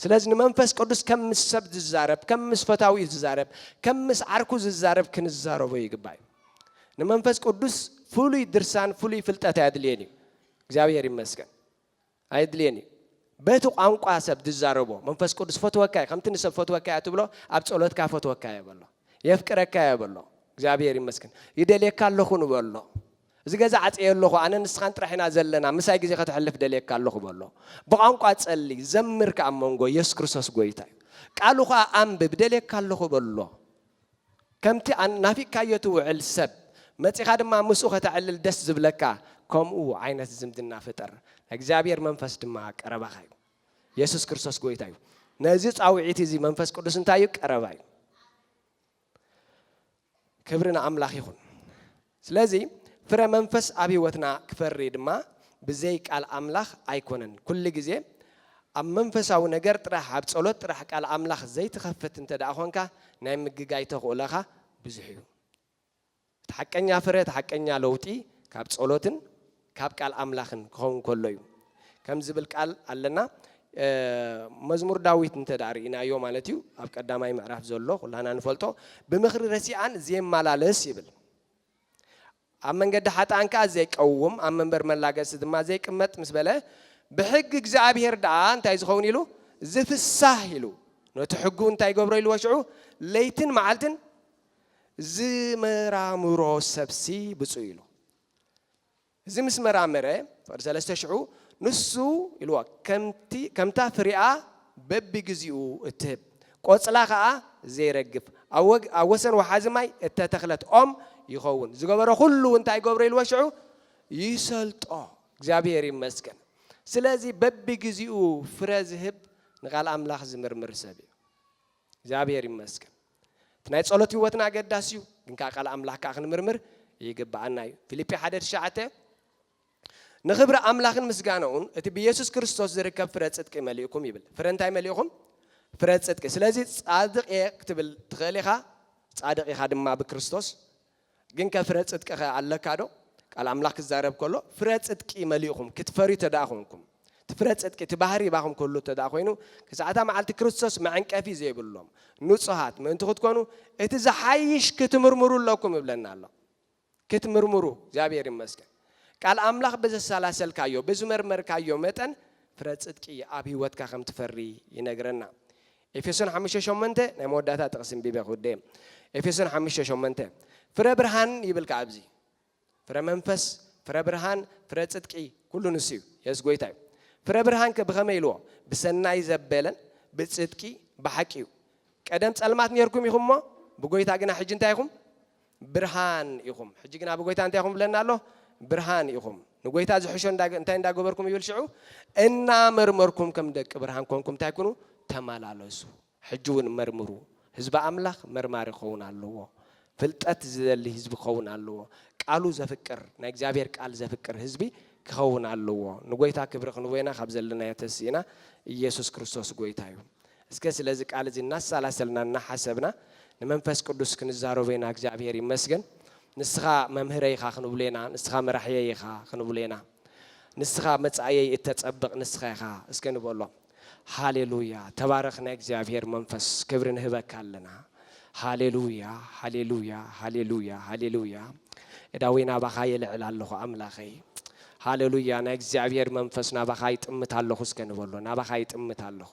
ስለዚ ንመንፈስ ቅዱስ ከም ምስ ሰብ ዝዛረብ፣ ከም ምስ ፈታዊኡ ዝዛረብ፣ ከም ምስ ዓርኩ ዝዛረብ ክንዛረቦ ይግባእ እዩ። ንመንፈስ ቅዱስ ፍሉይ ድርሳን ፍሉይ ፍልጠት ኣየድልዮን እዩ። እግዚኣብሄር ይመስገን። ኣየድልየን እዩ በቲ ቋንቋ ሰብ ዝዛረቦ መንፈስ ቅዱስ ፈትወካ እዩ ከምቲ ንሰብ ፈትወካ እያ ትብሎ ኣብ ጸሎትካ ፈትወካ እየ በሎ የፍቅረካ እየ በሎ እግዚኣብሔር ይመስገን ይደልየካ ኣለኹ ንበሎ እዚ ገዛ ዓፀየ ኣለኹ ኣነ ንስኻን ጥራሕ ኢና ዘለና ምሳይ ግዜ ከተሕልፍ ደልየካ ኣለኹ በሎ ብቋንቋ ጸሊ ዘምር ከዓ መንጎ የሱስ ክርስቶስ ጎይታ እዩ ቃሉ ከዓ ኣንብብ ደልየካ ኣለኹ በሎ ከምቲ ናፊቅካዮ ትውዕል ሰብ መጺኻ ድማ ምስኡ ከተዕልል ደስ ዝብለካ ከምኡ ዓይነት ዝምድና ፍጠር ናይ እግዚኣብሔር መንፈስ ድማ ኣብ ቀረባኻ እዩ የሱስ ክርስቶስ ጎይታ እዩ ነዚ ጻውዒት እዚ መንፈስ ቅዱስ እንታይ እዩ ቀረባ እዩ ክብሪ ንኣምላኽ ይኹን ስለዚ ፍረ መንፈስ ኣብ ሕይወትና ክፈሪ ድማ ብዘይ ቃል ኣምላኽ ኣይኮነን። ኩሉ ጊዜ ኣብ መንፈሳዊ ነገር ጥራሕ ኣብ ጸሎት ጥራሕ ቃል ኣምላኽ ዘይትኸፍት እንተደኣ ኾንካ ናይ ምግጋይ ተኽእሎኻ ብዙሕ እዩ። እቲ ሓቀኛ ፍረ እቲ ሓቀኛ ለውጢ ካብ ጸሎትን፣ ካብ ቃል ኣምላኽን ክኸውን ከሎ እዩ ከም ዝብል ቃል ኣለና መዝሙር ዳዊት እንተ ርእናዮ ማለት እዩ ኣብ ቀዳማይ ምዕራፍ ዘሎ ኩላና ንፈልጦ ብምኽሪ ረሲኣን ዘየመላለስ ይብል ኣብ መንገዲ ሓጥኣን ከዓ ዘይቀውም ኣብ መንበር መላገሲ ድማ ዘይቅመጥ ምስ በለ ብሕጊ እግዚኣብሄር ደኣ እንታይ ዝኸውን ኢሉ ዝፍሳህ ኢሉ ነቲ ሕጉ እንታይ ገብሮ ኢልዎ ሽዑ ለይትን መዓልትን ዝመራምሮ ሰብሲ ብፁ ኢሉ እዚ ምስ መራመረ፣ ፍቕዲ ሰለስተ ሽዑ፣ ንሱ ኢልዎ፣ ከምቲ ከምታ ፍሪኣ በብግዜኡ እትህብ፣ ቆጽላ ከኣ ዘይረግፍ፣ ኣብ ወግ ኣብ ወሰን ወሓዚ ማይ እተተኽለት ኦም ይኸውን። ዝገበሮ ኩሉ እንታይ ገብሮ ኢልዎ ሽዑ ይሰልጦ። እግዚኣብሄር ይመስገን። ስለዚ በብግዜኡ ፍረ ዝህብ ንቃል ኣምላኽ ዝምርምር ሰብ እዩ። እግዚኣብሄር ይመስገን። እቲ ናይ ጸሎት ህይወትና ኣገዳሲ እዩ፣ ግን ከኣ ቃል ኣምላኽ ከኣ ክንምርምር ይግብኣና እዩ። ፊልጲ ሓደ ትሽዓተ፣ ንኽብሪ ኣምላኽን ምስጋናኡን እቲ ብየሱስ ክርስቶስ ዝርከብ ፍረ ጽድቂ መሊእኩም ይብል። ፍረ እንታይ መሊእኹም? ፍረ ጽድቂ። ስለዚ ጻድቕ እየ ክትብል ትኽእል ኢኻ፣ ጻድቕ ኢኻ ድማ ብክርስቶስ። ግንከ ፍረ ጽድቂኸ ኣለካዶ? ቃል ኣምላኽ ክዛረብ ከሎ ፍረ ጽድቂ መሊእኹም ክትፈርዩ ተደኣ ኮንኩም፣ እቲ ፍረ ጽድቂ እቲ ባህሪ ይባኹም ክህሉ ተደኣ ኮይኑ፣ ክሳዕ እታ መዓልቲ ክርስቶስ መዐንቀፊ ዘይብሎም ንጹሃት ምእንቲ ክትኮኑ እቲ ዝሓይሽ ክትምርምሩ ኣለኩም ይብለና ኣሎ። ክትምርምሩ እግዚኣብሔር ይመስገን ቃል ኣምላኽ ብዘሰላሰልካዮ ብዝመርመርካዮ መጠን ፍረ ጽድቂ ኣብ ሕይወትካ ከም ትፈሪ ይነግረና። ኤፌሶን ሓሙሽተ ሸሞንተ ናይ መወዳእታ ጥቕሲ እንቢበ ክውደእ እየ። ኤፌሶን ሓሙሽተ ሸሞንተ ፍረ ብርሃን ይብል ከዓ ኣብዚ ፍረ መንፈስ፣ ፍረ ብርሃን፣ ፍረ ጽድቂ ኩሉ ንሱ እዩ። የሱስ ጎይታ እዩ። ፍረ ብርሃን ከ ብኸመይ ኢልዎ? ብሰናይ ዘበለን ብጽድቂ ብሓቂ እዩ። ቀደም ጸልማት ኔርኩም ኢኹም እሞ ብጎይታ ግና ሕጂ እንታይ ኢኹም? ብርሃን ኢኹም። ሕጂ ግና ብጐይታ እንታይ ኢኹም ይብለና ኣሎ? ብርሃን ኢኹም። ንጐይታ ዝሕሾ እንታይ እንዳ ገበርኩም ይብል ሽዑ? እና መርመርኩም ከም ደቂ ብርሃን ኰንኩም እንታይ ኩኑ? ተማላለሱ። ሕጂ እውን መርምሩ። ህዝቢ ኣምላኽ መርማሪ ክኸውን ኣለዎ። ፍልጠት ዝደሊ ህዝቢ ክኸውን ኣለዎ። ቃሉ ዘፍቅር፣ ናይ እግዚኣብሔር ቃል ዘፍቅር ህዝቢ ክኸውን ኣለዎ። ንጐይታ ክብሪ ክንቦ ኢና ካብ ዘለናዮ ተሲእና። ኢየሱስ ክርስቶስ ጐይታ እዩ። እስከ ስለዚ ቃል እዚ እናሳላሰልና እናሓሰብና ንመንፈስ ቅዱስ ክንዛረቦ ኢና እግዚኣብሔር ይመስገን ንስኻ መምህረይ ኢኻ ክንብሎ ኢና ንስኻ መራሕየይ ኢኻ ክንብሎ ኢና ንስኻ መጻእየይ እተጸብቅ ንስኻ ኢኻ እስከ ንበሎ ሃሌሉያ ተባረኽ ናይ እግዚኣብሔር መንፈስ ክብሪ ንህበካ ኣለና ሃሌሉያ ሃሌሉያ ሃሌሉያ ሃሌሉያ እዳወይ ናባኻ የልዕል ኣለኹ ኣምላኸይ ሃሌሉያ ናይ እግዚኣብሔር መንፈስ ናባኻ ይጥምት ኣለኹ እስከ ንበሎ ናባኻ ይጥምት ኣለኹ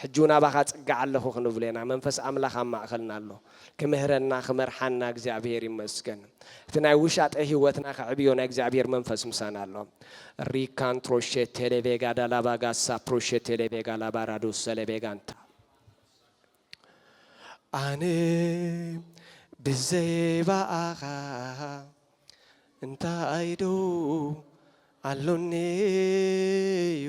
ሕጂ ውን ኣባኻ ጽግዕ ኣለኹ ክንብሎ ኢና መንፈስ ኣምላኽ ኣብ ማእከልና ኣሎ ክምህረና ክመርሓና እግዚኣብሄር ይመስገን እቲ ናይ ውሻጠ ሂወትና ከዕብዮ ናይ እግዚኣብሄር መንፈስ ምሳና ኣሎ ሪካን ትሮሸ ቴሌቬጋ ዳላባ ጋሳ ፕሮሸ ቴሌቬጋ ላባራዶ ሰለቤጋንታ ኣነ ብዘይባኣኻ እንታይ ዶ ኣሎኒ እዩ